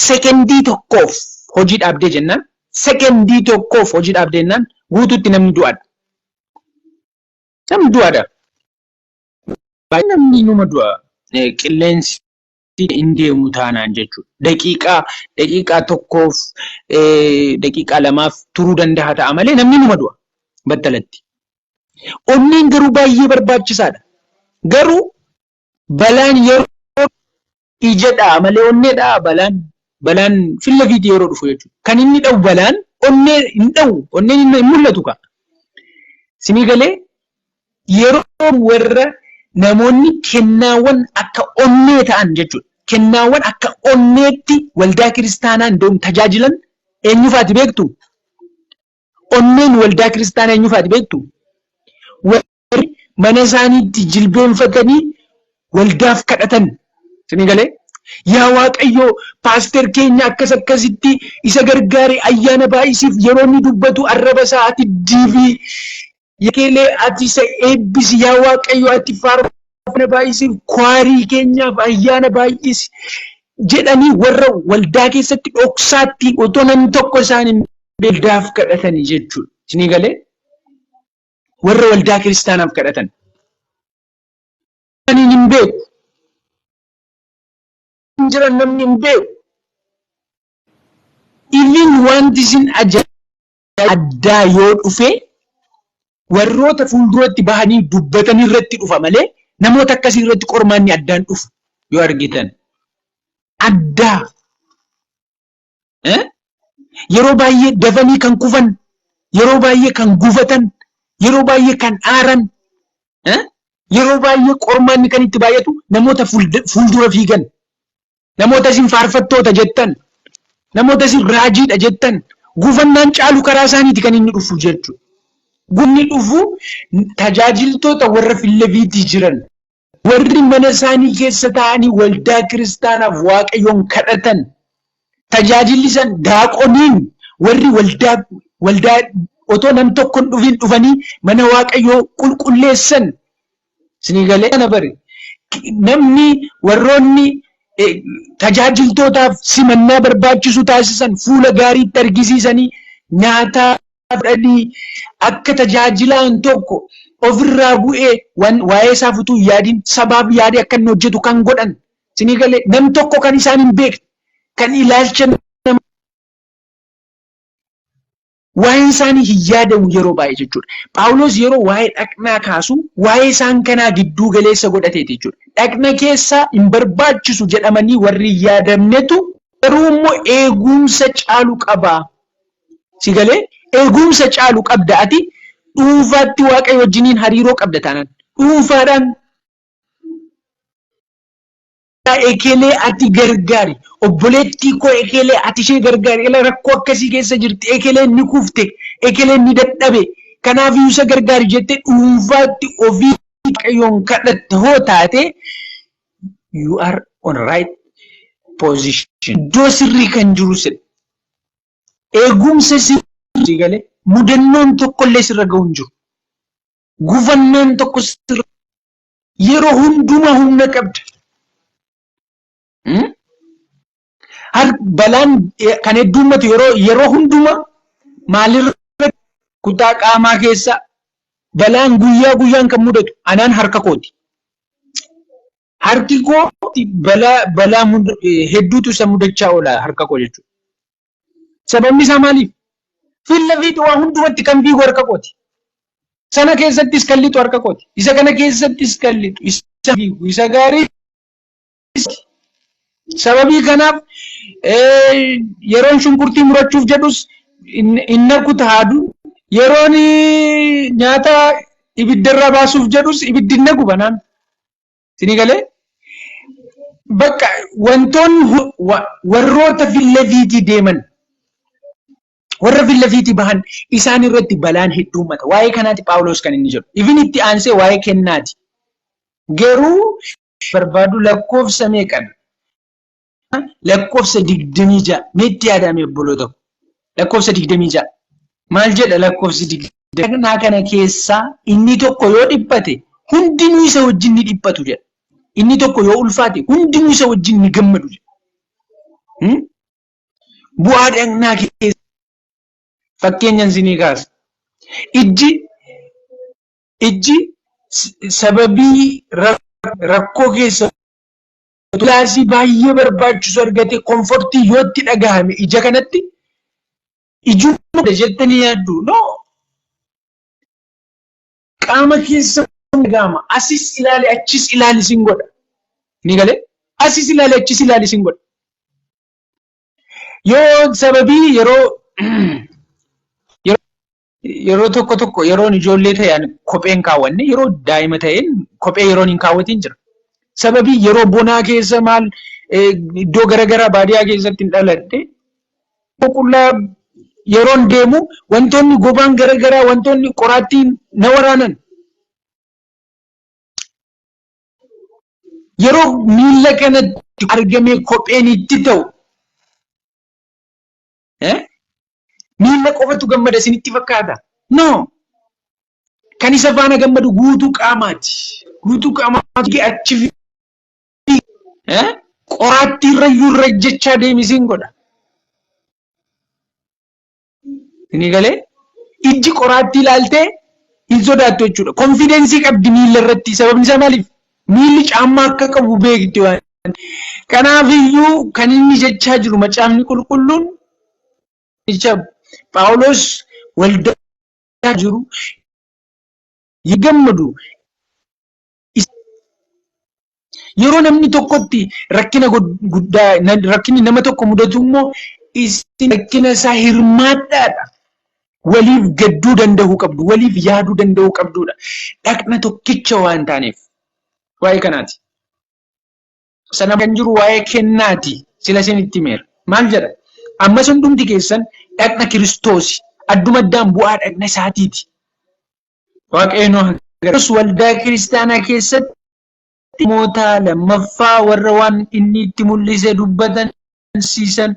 sekendii tokkoof hojii dhaabdee jennaan sekendii tokkoof hojii dhaabdee jennaan guutuutti namni du'aadha. Namni du'aadha. Baay'ee namni numa du'a qilleensi hin deemu taanaan jechuudha. Daqiiqaa daqiiqaa tokkoof daqiiqaa lamaaf turuu danda'a ta'a malee namni numa du'a battalatti. Onneen garuu baay'ee barbaachisaadha. Garuu Balaan yeroo ija dha'a malee onnee dha'aa balaan? Balaan filla fiiti yeroo dhufu jechuudha. Kan inni dha'u balaan onnee hin dha'u. Onneen hin hin mul'atu kaa. Sinii galee yeroo warra namoonni kennaawwan akka onnee ta'an jechuudha. Kennaawwan akka onneetti waldaa kiristaanaa indoom tajaajilan eenyufaati beektu? Onneen waldaa kiristaanaa eenyu faati beektu? Warri mana isaaniitti jilbeenfatanii waldaaf kadhatan. Isinii galee? Yaa Waaqayyo paaster keenya akkas akkasitti isa gargaari ayyaana baay'isiif yeroo inni dubbatu arraba isaa ati diibii Yekeelee ati isa eebbisi yaa Waaqayyo ati faarfana baay'isiif kwaarii keenyaaf ayyaana baay'isi jedhanii warra waldaa keessatti dhoksaatti otoo namni tokko isaan hin waldaaf kadhatanii jechuudha. Isinii galee warra waldaa kiristaanaaf kadhatan. Ani hin beeku. Hin jiran namni hin beeku. Iviin wanti isin ajaa'iba. addaa yoo dhufe warroota fuulduratti bahanii dubbatan irratti dhufa malee namoota akkasii irratti qormaanni addaan dhufu yoo argitan addaa yeroo baay'ee dafanii kan kufan yeroo baay'ee kan gufatan yeroo baay'ee kan aaran yeroo baay'ee qormaanni kan itti baay'atu namoota fuuldura fiigan Namoota isin faarfattoota jettan, namoota isin raajiidha jettan, gufannaan caalu karaa isaaniiti kan inni dhufu jechuudha. Gufni dhufu tajaajiltoota warra Fileviitii jiran, warri mana isaanii keessa taa'anii waldaa kiristaanaaf waaqayyoon kadhatan, tajaajilli san daaqoniin warri waldaa waldaa otoo nam tokkon dhufiin dhufanii mana waaqayyoo qulqulleessan Isinii galee kana bari namni warroonni tajaajiltootaaf simannaa barbaachisu taasisan fuula gaariitti argisiisanii nyaataa fudhanii akka tajaajilaan tokko ofirraa bu'ee waan waa'ee isaaf utuu hin yaadin sabaaf yaadee akka inni hojjetu kan godhan isinii galee nam tokko kan isaan hin beekne kan ilaalcha Waa'een isaanii hin yaadamu yeroo baay'ee jechuudha. Phaawulos yeroo waa'ee dhaqnaa kaasu waa'ee isaan kanaa gidduu galeessa godhateeti jechuudha. Dhaqna keessaa hin barbaachisu jedhamanii warri hin yaadamnetu garuu immoo eegumsa caalu qaba. Si galee eegumsa caalu qabda ati dhuunfaatti waaqayyo wajjiniin hariiroo qabda taanaan dhuunfaadhaan ekeelee ati gargaari obboleettii koo ekeelee ati ishee gargaari ila rakkoo akkasii keessa jirti ekeelee ni kufte ekeelee ni dadhabe kanaaf iyyuu isa gargaari jette dhuunfaatti ofii waaqayyoon kadhatte hoo taate you are on right position iddoo sirrii kan jiru sirri eegumsa sirrii galee mudannoon tokkollee sirra ga'u hin jiru gufannaan tokko sirra Yeroo hundumaa humna qabda. Balaan kan heddummatu yeroo yeroo hundumaa maalirra kutaa qaamaa keessa balaan guyyaa guyyaan kan mudatu anaan harka kooti. Harki koo balaa balaa hedduutu isa mudachaa oola harka koo jechuudha. Sababni isaa maaliif? Filla fi du'aa hundumatti kan fiigu harka kooti. Sana keessattis kan lixu harka kooti. Isa kana keessattis kan lixu isa fiigu isa gaarii sababii kanaaf yeroon shunkurtii murachuuf jedhus hin naqu taadu yeroon nyaata ibiddarraa baasuuf jedhus ibiddi hin naqu banaan. Isinii galee? Bakka wantoonni hu- wa- warroota fillafiitii deeman warra fillafiitii bahan isaan irratti balaan hedduu uummata. Waa'ee kanaati Phaawulos kan inni jedhu. Ifin itti aansee waa'ee kennaati. Garuu barbaadu lakkoofsa meeqan lakkoofsa 26 meetti yaadame obboloota koo lakkoofsa 26 maal jedha lakkoofsi 26 kana keessaa inni tokko yoo dhiphate hundinuu isa wajjin ni dhiphatu jedha inni tokko yoo ulfaate hundinuu isa wajjin ni gammadu jedha Hmm? bu'aa dhagnaa keessa fakkeenyan isinii kaasa ijji ijji s- sababii rak- rakkoo keessa kilaasii baay'ee barbaachisu argatee komfortii yoo itti dhagahame ija kanatti ijummaa dha jettanii yaaddu. No. Qaama keessa dhagahama. Asis ilaali achis ilaali sin godha. Ni galee? Asis ilaali achis ilaali sin godha. Yoo sababii yeroo Yeroo tokko tokko yeroon ijoollee ta'e ani kophee hin kaawwanne yeroo daa'ima ta'een kophee yeroon hin kaawwatiin jira. Sababii yeroo bonaa keessa maal eh, iddoo garaagaraa baadiyaa keessatti hin dhaladhe qullaa yeroon deemu wantoonni gobaan garaagaraa wantoonni qoraattiin na waraanan yeroo miila kanatti argamee kopheen itti ta'u Eh? Miila qofatu gammada isinitti fakkaata? No! Kan isa faana gammadu guutuu qaamaati. Guutuu qaamaatu achi fi eh? qoraattii irra iyyuu irra jechaa deemisiin godha. Inni galee ijji qoraattii ilaaltee hin sodaattu jechuudha. Konfideensii qabdi miila irratti sababni isaa maaliif? Miilli caammaa akka qabu beekti waan. Kanaaf iyyuu kan inni jechaa jiru macaafni qulqulluun jecha Phaawulos waldaa jiru hin gammadu. Yeroo namni tokkotti rakkina guddaa rakkinni nama tokko mudatu immoo isin rakkina isaa hirmaadhaadha. waliif gadduu danda'uu qabdu, waliif yaaduu danda'uu qabduudha. Dhaqna tokkicha waan taaneef waa'ee kanaati. Sana kan jiru waa'ee kennaati. Sila isin itti himeera. Maal jedha? Ammas hundumti keessan dhaqna Kiristoosi. Adduma addaan bu'aa dhaqna isaatiiti. Waaqayyoon agarsiisu waldaa kiristaanaa keessatti ergamoota lammaffaa warra waan inni itti mul'ise dubbatan barsiisan,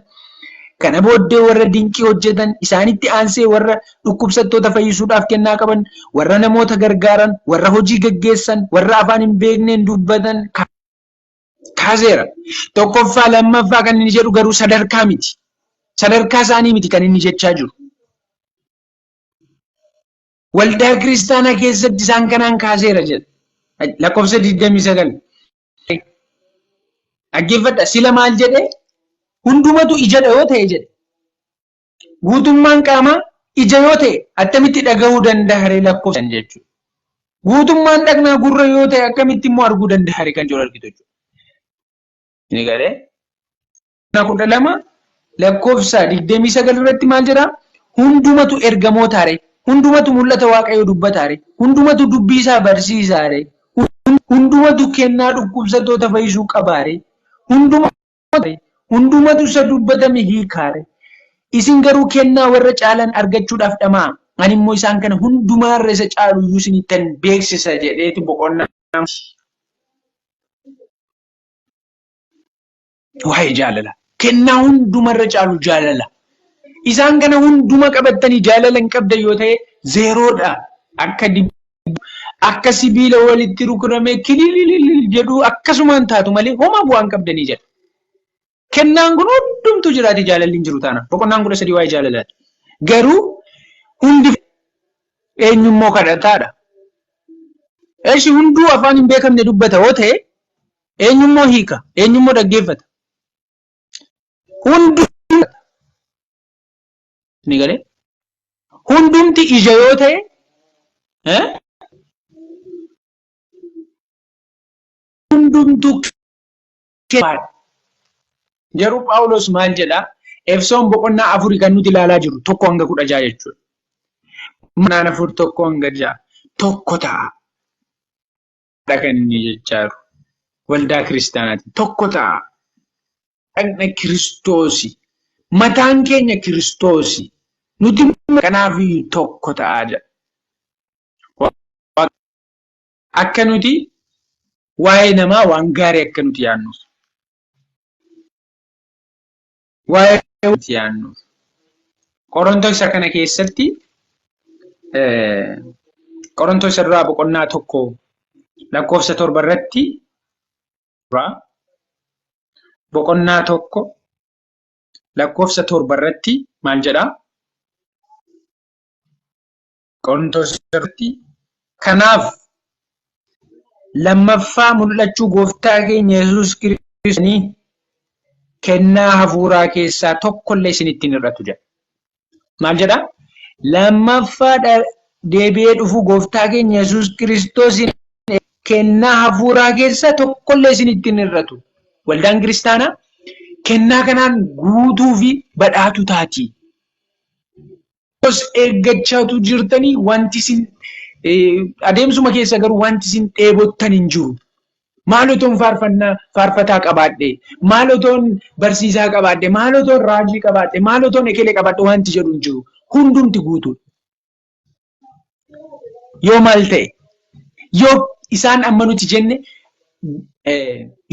kana booddee warra dinqii hojjetan, isaanitti aansee warra dhukkubsattoota fayyisuudhaaf kennaa qaban, warra namoota gargaaran, warra hojii geggeessan, warra afaan hin beekneen dubbatan kaaseera. Tokkoffaa, lammaffaa kan inni jedhu garuu sadarkaa miti. Sadarkaa isaanii miti kan inni jechaa jiru. Waldaa kiristaanaa keessatti isaan kanaan kaaseera jedha. Lakkoofsa 29. Dhaggeeffadha. Sila maal jedhee? Hundumatu ijadha yoo ta'e jedhe. Guutummaan qaamaa ija yoo ta'e attamitti dhagahuu danda'a ree lakkoofsan jechuudha. Guutummaan dhaqnaa gurra yoo ta'e akkamitti immoo arguu danda'a ree kan jiru argitu jechuudha. Ni galee? kudha lama lakkoofsa digdamii sagal irratti maal jedha? Hundumatu ergamootaare, hundumatu mul'ata Waaqayyoo dubbataare, hundumatu dubbii isaa barsiisaare, hundumatu kennaa dhukkubsattoota fayyisuu qabaare, hundumatu isa dubbatame hiikaare. Isin garuu kennaa warra caalan argachuudhaaf dhama'a. Ani immoo isaan kana hundumaarra isa caalu iyyuu isinittan beeksisa jedheeti boqonnaa Waa'ee jaalala. Kennaa hundumarra caalu jaalala. Isaan kana hunduma qabattanii jaalala hin qabdan yoo ta'e zeeroodha. Akka akka sibiila walitti rukutamee kilililil jedhu akkasumaan taatu malee homaa bu'aa hin qabdanii jedha. Kennaan kun hundumtu jiraate jaalalli hin jiru taana. Boqonnaan kudha sadii waa'ee jaalalaati. Garuu hundi eenyummoo kadhataadha. Eshi hunduu afaan hin beekamne dubbata yoo ta'e Eenyummoo hiika, eenyummoo dhaggeeffata. Hundi ni galee hundumti ija yoo ta'e hundumtu garuu Phaawulos maal jedha Efsoon boqonnaa afurii kan nuti ilaalaa jiru tokko hanga kudha ja'a jechuudha. Manaan afur tokko hanga ja'a tokko ta'a. dha kan inni jechaa jiru. Waldaa kiristaanaatiin tokko ta'a. Dhaqna kiristoosi. Mataan keenya kiristoosi. Nuti kanaaf tokko ta'a jedha. Akka nuti waa'ee namaa waan gaarii akka nuti yaadnuuf. Waa'ee itti yaannu. Qorontoo isa kana keessatti Qorontoo isa duraa boqonnaa tokko lakkoofsa torba irratti boqonnaa tokko lakkoofsa torba irratti maal jedhaa? Qorontos irratti kanaaf lammaffaa mul'achuu gooftaa keenya Yesuus Kiristoosanii kennaa hafuuraa keessaa tokkollee isinitti hin hir'atu jedha. Maal jedha? Lammaffaa deebi'ee dhufuu gooftaa keenya Yesuus Kiristoosiin kennaa hafuuraa keessaa tokkollee isinitti hin hir'atu. Waldaan kiristaanaa kennaa kanaan guutuu fi badhaatuu taati. Os eeggachaatu jirtanii wanti isin adeemsuma keessa garuu wanti isin dheebottan hin jiru. Maal otoon faarfannaa faarfataa qabaadhe, maal otoon barsiisaa qabaadhe, maal otoon raajii qabaadhe, maal otoon ekele qabaadhe wanti jedhu hin jiru. Hundumti guutuudha. Yoo maal ta'e? Yoo isaan amma nuti jenne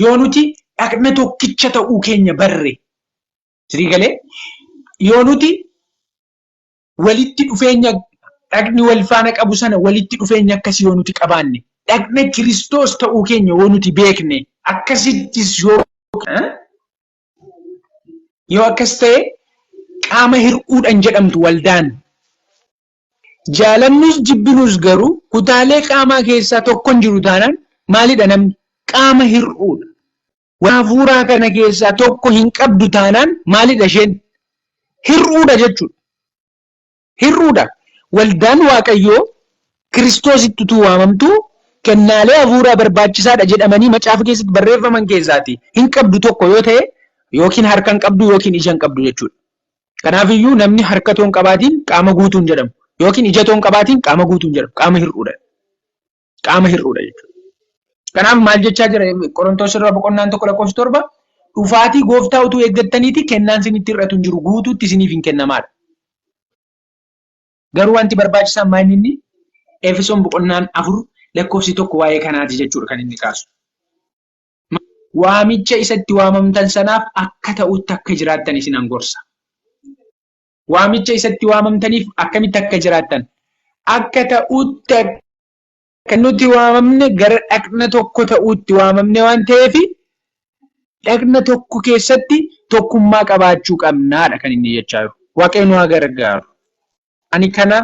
yoo nuti dhaqna tokkicha ta'uu keenya barre Sirii galee yoo nuti walitti dhufeenya dhagni wal faana qabu sana walitti dhufeenya akkasii yoo nuti qabaanne dhagna kiristoos ta'uu keenya yoo nuti beekne akkasittis yoo yoo akkas ta'e qaama hir'uudhan jedhamtu waldaan jaalannus jibbinus garuu kutaalee qaamaa keessaa tokkon jiru taanaan maalidha namni qaama hir'uudha Waan hafuuraa kana keessaa tokko hin qabdu taanaan maalidha isheen? Hir'uudha jechuudha. Hir'uudha. Waldaan Waaqayyoo Kiristoositti utuu waamamtu kennaalee hafuuraa barbaachisaadha jedhamanii macaafa keessatti barreeffaman keessaati hin qabdu tokko yoo ta'e yookiin harka hin qabdu yookiin ija hin qabdu jechuudha. Kanaaf iyyuu namni harka toon qabaatiin qaama guutuun jedhamu yookiin ija toon qabaatiin qaama guutuun jedhamu qaama hir'uudha. Qaama hir'uudha jechuudha. Kanaaf maal jechaa jira Qorontoos irraa boqonnaan tokko lakkoofsi torba dhufaatii gooftaa utuu eeggattaniiti kennaan isinitti hir'atu hin jiru guutuutti isiniif hin kennamaadha. Garuu wanti barbaachisaan maal inni Efesoon boqonnaan afur lakkoofsi tokko waa'ee kanaati jechuudha kan inni kaasu. Waamicha isatti waamamtan sanaaf akka ta'utti akka jiraattan isin gorsa. waamicha isatti waamamtaniif akkamitti akka jiraattan akka ta'utti akka nuti waamamne gara dhaqna tokko ta'utti waamamne waan ta'eef dhaqna tokko keessatti tokkummaa qabaachuu qabnaadha kan inni jechaa jiru. Waaqayyo nu haa gargaaru. Ani kana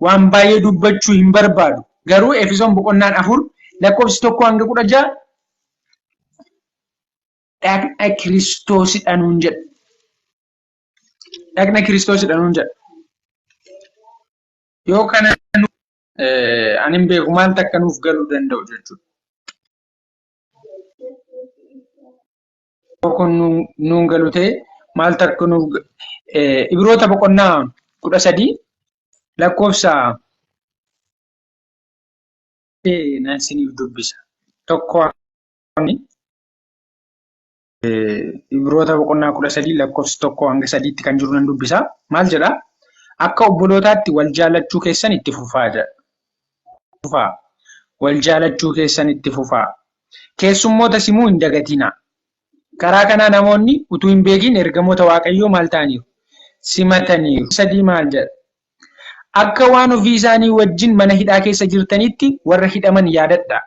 waan baay'ee dubbachuu hin barbaadu. Garuu Efesoon boqonnaan afur lakkoofsi tokko hanga kudha ja'a dhaqna Kiristoosidha nuun jedha. dhaqna kiristoosidha nuun jedha. Yoo kana ani hin beeku maal takka nuuf galuu danda'u jechuudha. Kun nuun galu ta'e maal takka nuuf Ibiroota boqonnaa kudha sadii lakkoofsa nan siniif dubbisa. Tokko Ibroota boqonnaa kudha sadii lakkoofsi tokko hanga sadiitti kan jiru nan dubbisa. Maal jedha? Akka obbolootaatti wal jaallachuu keessan itti fufaa jedha. Fufaa. Wal jaallachuu keessan itti fufaa. Keessummoota simuu hin dagatina. Karaa kanaa namoonni utuu hin beekin ergamoota Waaqayyoo maal ta'aniiru? Simataniiru. Sadii maal jedha? Akka waan ofii isaanii wajjin mana hidhaa keessa jirtanitti warra hidhaman yaadadha.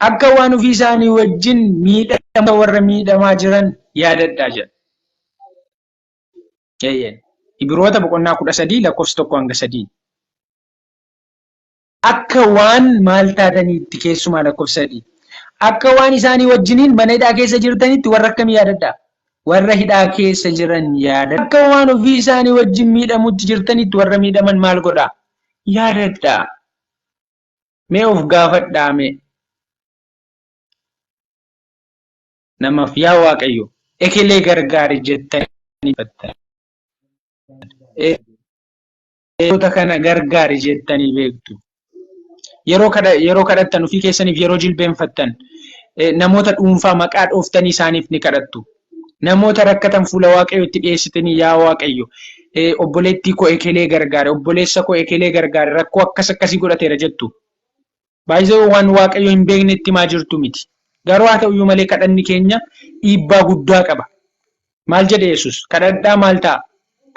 Akka waan ofii isaanii wajjin miidhamtoota warra miidhamaa jiran yaadadhaa jedha. Eeyyeen. Ibiroota boqonnaa kudha sadii lakkoofsa tokko hanga sadii. Akka waan maal taataniitti keessumaa lakkoofsa sadii. Akka waan isaanii wajjiniin mana hidhaa keessa jirtanitti warra akkamii yaadadhaa? Warra hidhaa keessa jiran yaadadhaa. Akka waan ofii isaanii wajjin miidhamutti jirtanitti warra miidhaman maal godhaa? Yaadadhaa. Mee of gaafadhaa mee namaaf yaa waaqayyo ekelee gargaari jettanii beektu kana gargaari jettanii beektu yeroo kadha yeroo kadhattan ofii keessaniif yeroo jilbeenfattan namoota dhuunfaa maqaa dhooftanii isaaniif ni kadhattu Namoota rakkatan fuula Waaqayyootti dhiyeessitanii yaa Waaqayyo obboleettii koo ekelee gargaare, obboleessa koo ekelee gargaare rakkoo akkas akkasii godhateera jettu. Baay'ee waan Waaqayyo hin beeknetti maa jirtu miti. Garuu haa ta'uyyuu malee kadhanni keenya dhiibbaa guddaa qaba. Maal jedhe Yesuus? Kadhadhaa maal ta'a?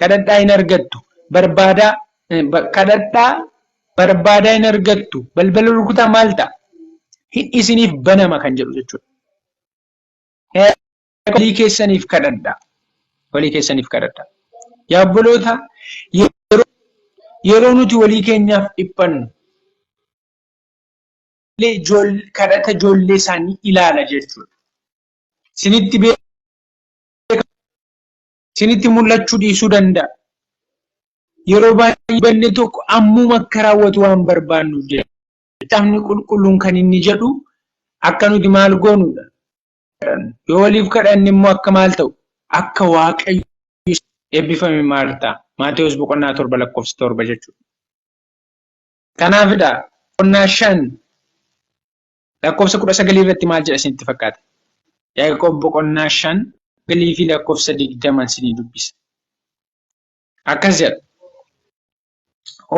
Kadhadhaa hin argattu. Barbaadaa kadhadhaa barbaadaa hin argattu. Balbala rukutaa maal ta'a? Hin isiniif banama kan jedhu jechuudha. walii keessaniif kadhadha. Walii keessaniif kadhadha. Yaa obboloota yeroo nuti walii keenyaaf dhiphannu kadhata ijoollee isaanii ilaala jechuudha. Sinitti beekamu sinitti mul'achuu dhiisuu danda'a. Yeroo baay'ee banne tokko ammuma akka raawwatu waan barbaannuuf jechuudha. Macaafni qulqulluun kan inni jedhu akka nuti maal goonudha? Yoo waliif kadhanne immoo akka maal ta'u? Akka waaqayyo eebbifame Maartaa. Maatewos boqonnaa torba lakkoofsa torba jechuudha. Kanaafidha boqonnaa shan lakkoofsa kudha sagalii irratti maal jedha isinitti fakkaata? Yaaqoob boqonnaa shan galii fi lakkoofsa digdaman isinii dubbisa. Akkas jedha.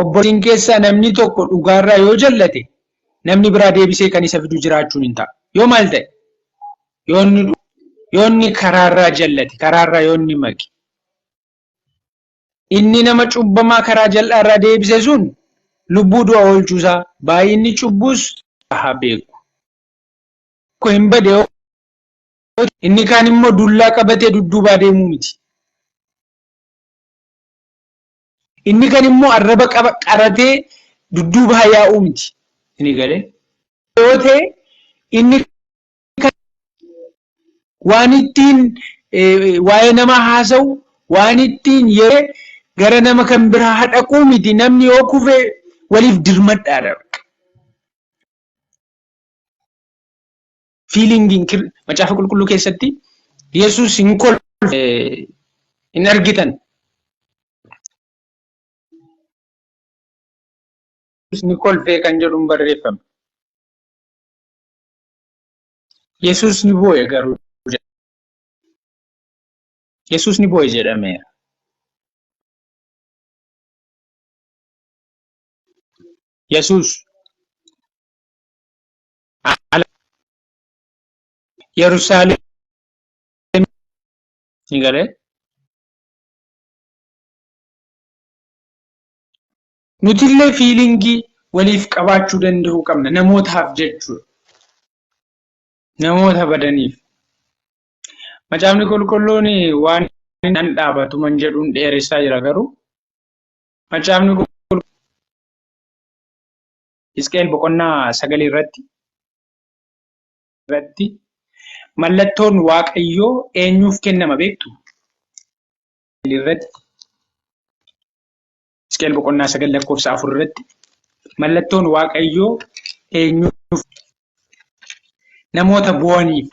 obboleeyyan keessaa namni tokko dhugaarraa yoo jallate namni biraa deebisee kan isa fidu jiraachuun hin ta'a. Yoo maal ta'e? Yoo inni dhu- yoo inni karaarraa jallate, karaarraa yoo inni maqe. Inni nama cubbamaa karaa jal'aarraa deebise sun lubbuu du'a oolchuusaa baay'inni cubbuus haa beeku. Tokko hin bade yoo ta'e, inni kaan immoo dullaa qabatee dudduubaa deemuu miti. Inni kan immoo arraba qaba qaratee dudduuba hayaa'uu miti. Inni galee yoo ta'e inni kan waan ittiin waa'ee nama haasa'u waan ittiin yeroo gara nama kan biraa hadhaquu miti namni yoo kufe waliif dirmadhaadha. fiilingiin macaafa qulqulluu keessatti Yesuus hin kolfe hin argitan. Ni kolfee kan jedhuun barreeffame. Yesuus ni boo'e garuu Yesuus ni boo'e jedhameera. Yesuus ala Yerusaalem ni galee nutillee fiilingii waliif qabaachuu danda'uu qabna namootaaf jechuudha. Namoota badaniif. Macaafni qulqulluun waan nan dhaabatu man jedhuun dheeressaa jira garuu macaafni qulqulluun Hisqi'el boqonnaa sagal irratti irratti mallattoon Waaqayyoo eenyuuf kennama beektu? irratti Hisqi'el boqonnaa sagal lakkoofsa afur irratti mallattoon Waaqayyoo eenyuuf namoota boo'aniif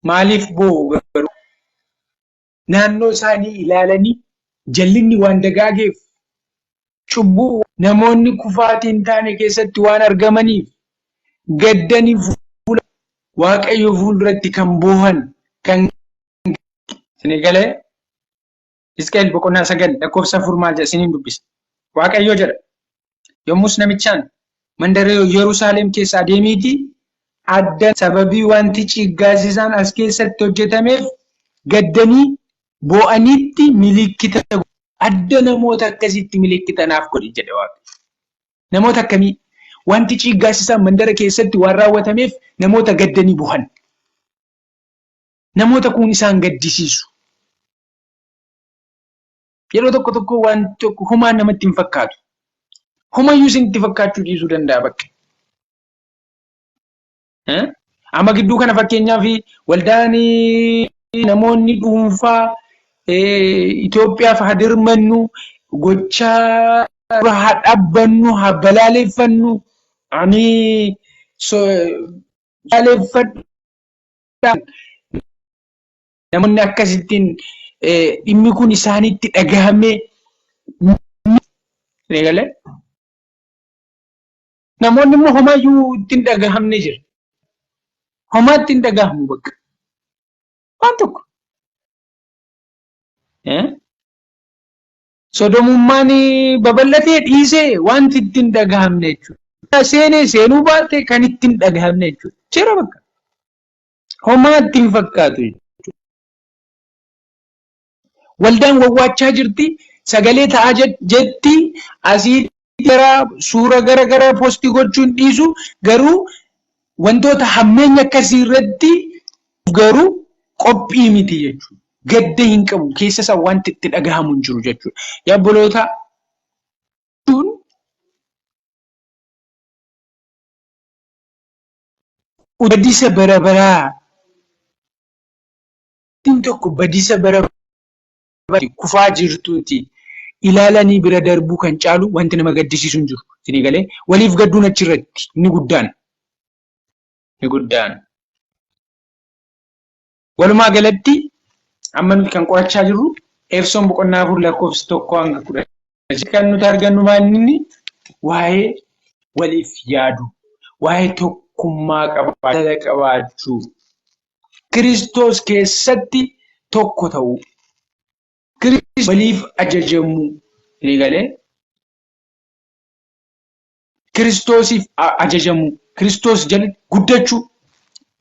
maaliif boo'u garuu naannoo isaanii ilaalanii jallinni waan dagaageef cubbuu namoonni kufaatii hin taane keessatti waan argamaniif gaddanii fuula waaqayyoo fuulduratti kan boohan kan isinii galee Isqeel boqonnaa sagal lakkoofsa afur maal jedha isiniin dubbisa waaqayyoo jedha Yommus namichaan mandara Yerusaalem keessa adeemiitii adda sababii wanti ciiggaasisaan as keessatti hojjetameef gaddanii boo'anitti milikkita adda namoota akkasitti milikkitanaaf godhi jedhe Waaqayyo. Namoota akkamii wanti ciiggaasisaan mandara keessatti waan raawwatameef namoota gaddanii boohan. Namoota kun isaan gaddisiisu. Yeroo tokko tokko waan tokko humaa namatti hin fakkaatu. Humayyuu isinitti fakkaachuu dhiisuu danda'a bakka. Amma gidduu kana fakkeenyaaf waldaan namoonni dhuunfaa Itoophiyaaf haa dirmannu gochaa dura haa dhaabbannu haa balaaleffannu ani balaaleffadha Namoonni akkasittiin dhimmi kun isaanitti dhagahamee eegalee namoonni immoo homaa iyyuu ittiin dhagahamne jira. Homaa ittiin dhagahamu bakka. Waan tokko. Sodomummaan babal'atee dhiisee wanti ittiin dhagahamne jechuudha. Seenee seenuu baate kan ittiin dhagahamne jechuudha. Jira bakka. Homaa itti hin fakkaatu jechuudha. Waldaan wawwaachaa jirti, sagalee ta'aa jetti, asii gara suura gara garaa poostii gochuun dhiisu garuu wantoota hammeenya akkasii irratti garuu qophii miti jechuudha. Gadda hin qabu, keessa isaa wanti itti dhagahamu hin jiru jechuudha. Yaa obboloota Badisa bara baraa Dubartiin tokko badisa bara baraatti kufaa jirtuuti ilaalanii bira darbuu kan caalu wanti nama gaddisiisu hin jiru. Isinii galee waliif gadduun achirratti inni guddaan. Inni guddaan. Walumaa galatti amma nuti kan qorachaa jirru Efsoon boqonnaa afur lakkoofsa tokko hanga kudha kan nuti argannu maalinni waa'ee waliif yaadu waa'ee tokkummaa qabaachuu qabaachuu Kiristoos keessatti tokko ta'uu Kiristoos waliif ajajamuu eegalee Kiristoosiif ajajamuu, Kiristoos jala guddachuu.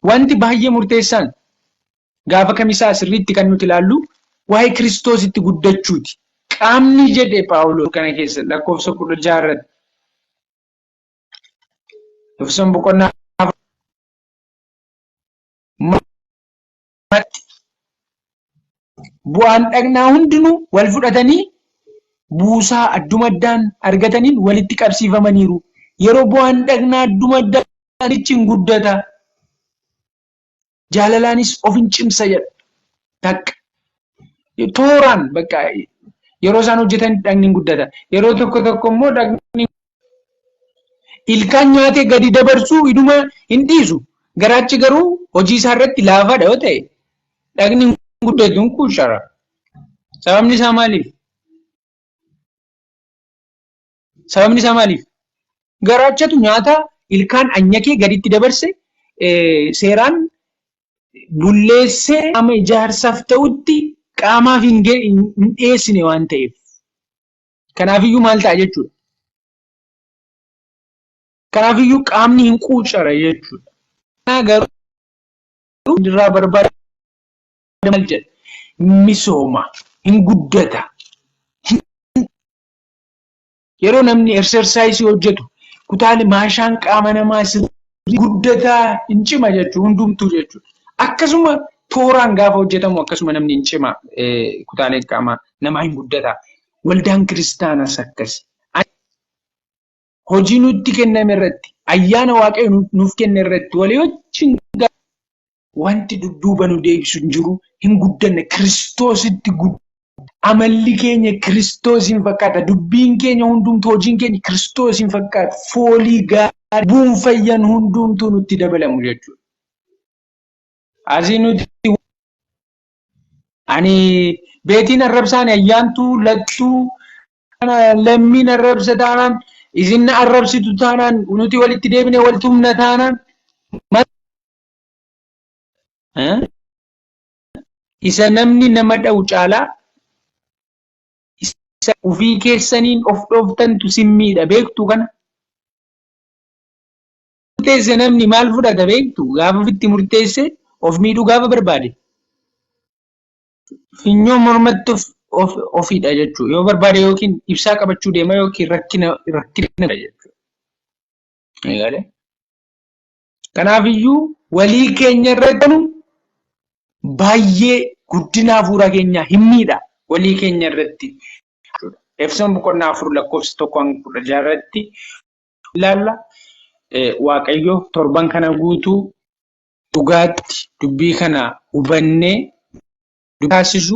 Wanti baay'ee murteessaan gaafa kamisaa sirriitti kan nuti ilaallu waa'ee Kiristoositti guddachuuti. Qaamni jedhe Phaawulos kana keessa lakkoofsa kudha jaha irratti. Efesoon boqonnaa Matti. Bu'aan dhagnaa hundinuu wal fudhatanii buusaa adduma addaan argataniin walitti qabsiifamaniiru. Yeroo bu'aan dhagnaa adduma addaan ichi hin guddata. Jaalalaanis of hin cimsa jedha. Takka. Tooraan bakka yeroo isaan hojjetan dhagni hin guddata. Yeroo tokko tokko immoo dhagni ilkaan nyaatee gadi dabarsuu iduma hin dhiisu garaachi garuu hojii isaa irratti laafaadha yoo ta'e dhagni hin guddatu hin kuushara sababni isaa maaliif sababni isaa maaliif garaachatu nyaata ilkaan anyakee gaditti dabarse seeraan bulleessee qaama ijaarsaaf ta'utti qaamaaf hin dhiyeessine waan ta'eef. Kanaafiyyuu maal ta'a jechuudha? Kanaafiyyuu qaamni hin quucara jechuudha. Kanaa garuu irraa barbaada maal jedha? Misooma, hin guddata. Yeroo namni exercise hojjetu kutaalee maashaan qaama namaa sirrii guddataa hin cima jechuudha hundumtuu jechuudha. Akkasuma tooraan gaafa hojjetamu akkasuma namni hin cima kutaaleen qaamaa namaa hin guddata. Waldaan kiristaanas akkasi. Hojii nutti kenname irratti ayyaana waaqayyo nuuf kenne irratti walii wajjin Wanti dudduuba nu deebisu hin jiru, hin guddanne Kiristoositti guddanne. Amalli keenya Kiristoosiin fakkaata, dubbiin keenya hundumtu, hojiin keenya Kiristoosiin fakkaata, foolii gaarii, buun fayyan hundumtuu nutti dabalamu jechuudha. Asii nuti ani beetiin arrabsaan ayyaantuu lattuu lammiin arrabsa taanaan isin arrabsitu taanaan nuti walitti deebine wal tumna taanaan isa namni nama dha'u caalaa isa ofii keessaniin of dhooftantu simmiidha beektu kana. Murteesse namni maal fudhata beektu gaafa ofitti murteesse of miidhuu gaafa barbaade. Finyoo mormatti of of ofidha jechuudha. Yoo barbaade yookiin ibsaa qabachuu deema yookiin rakkina rakkina jechuudha. Eegalee. Kanaafiyyuu walii keenya irra jedhu baay'ee guddina hafuuraa keenyaa hin miidha walii keenya irratti. Efesoon boqonnaa afur lakkoofsa tokko hanga kudha jaha irratti ilaalla. Waaqayyo torban kana guutuu dhugaatti dubbii kana hubannee dubbii taasisu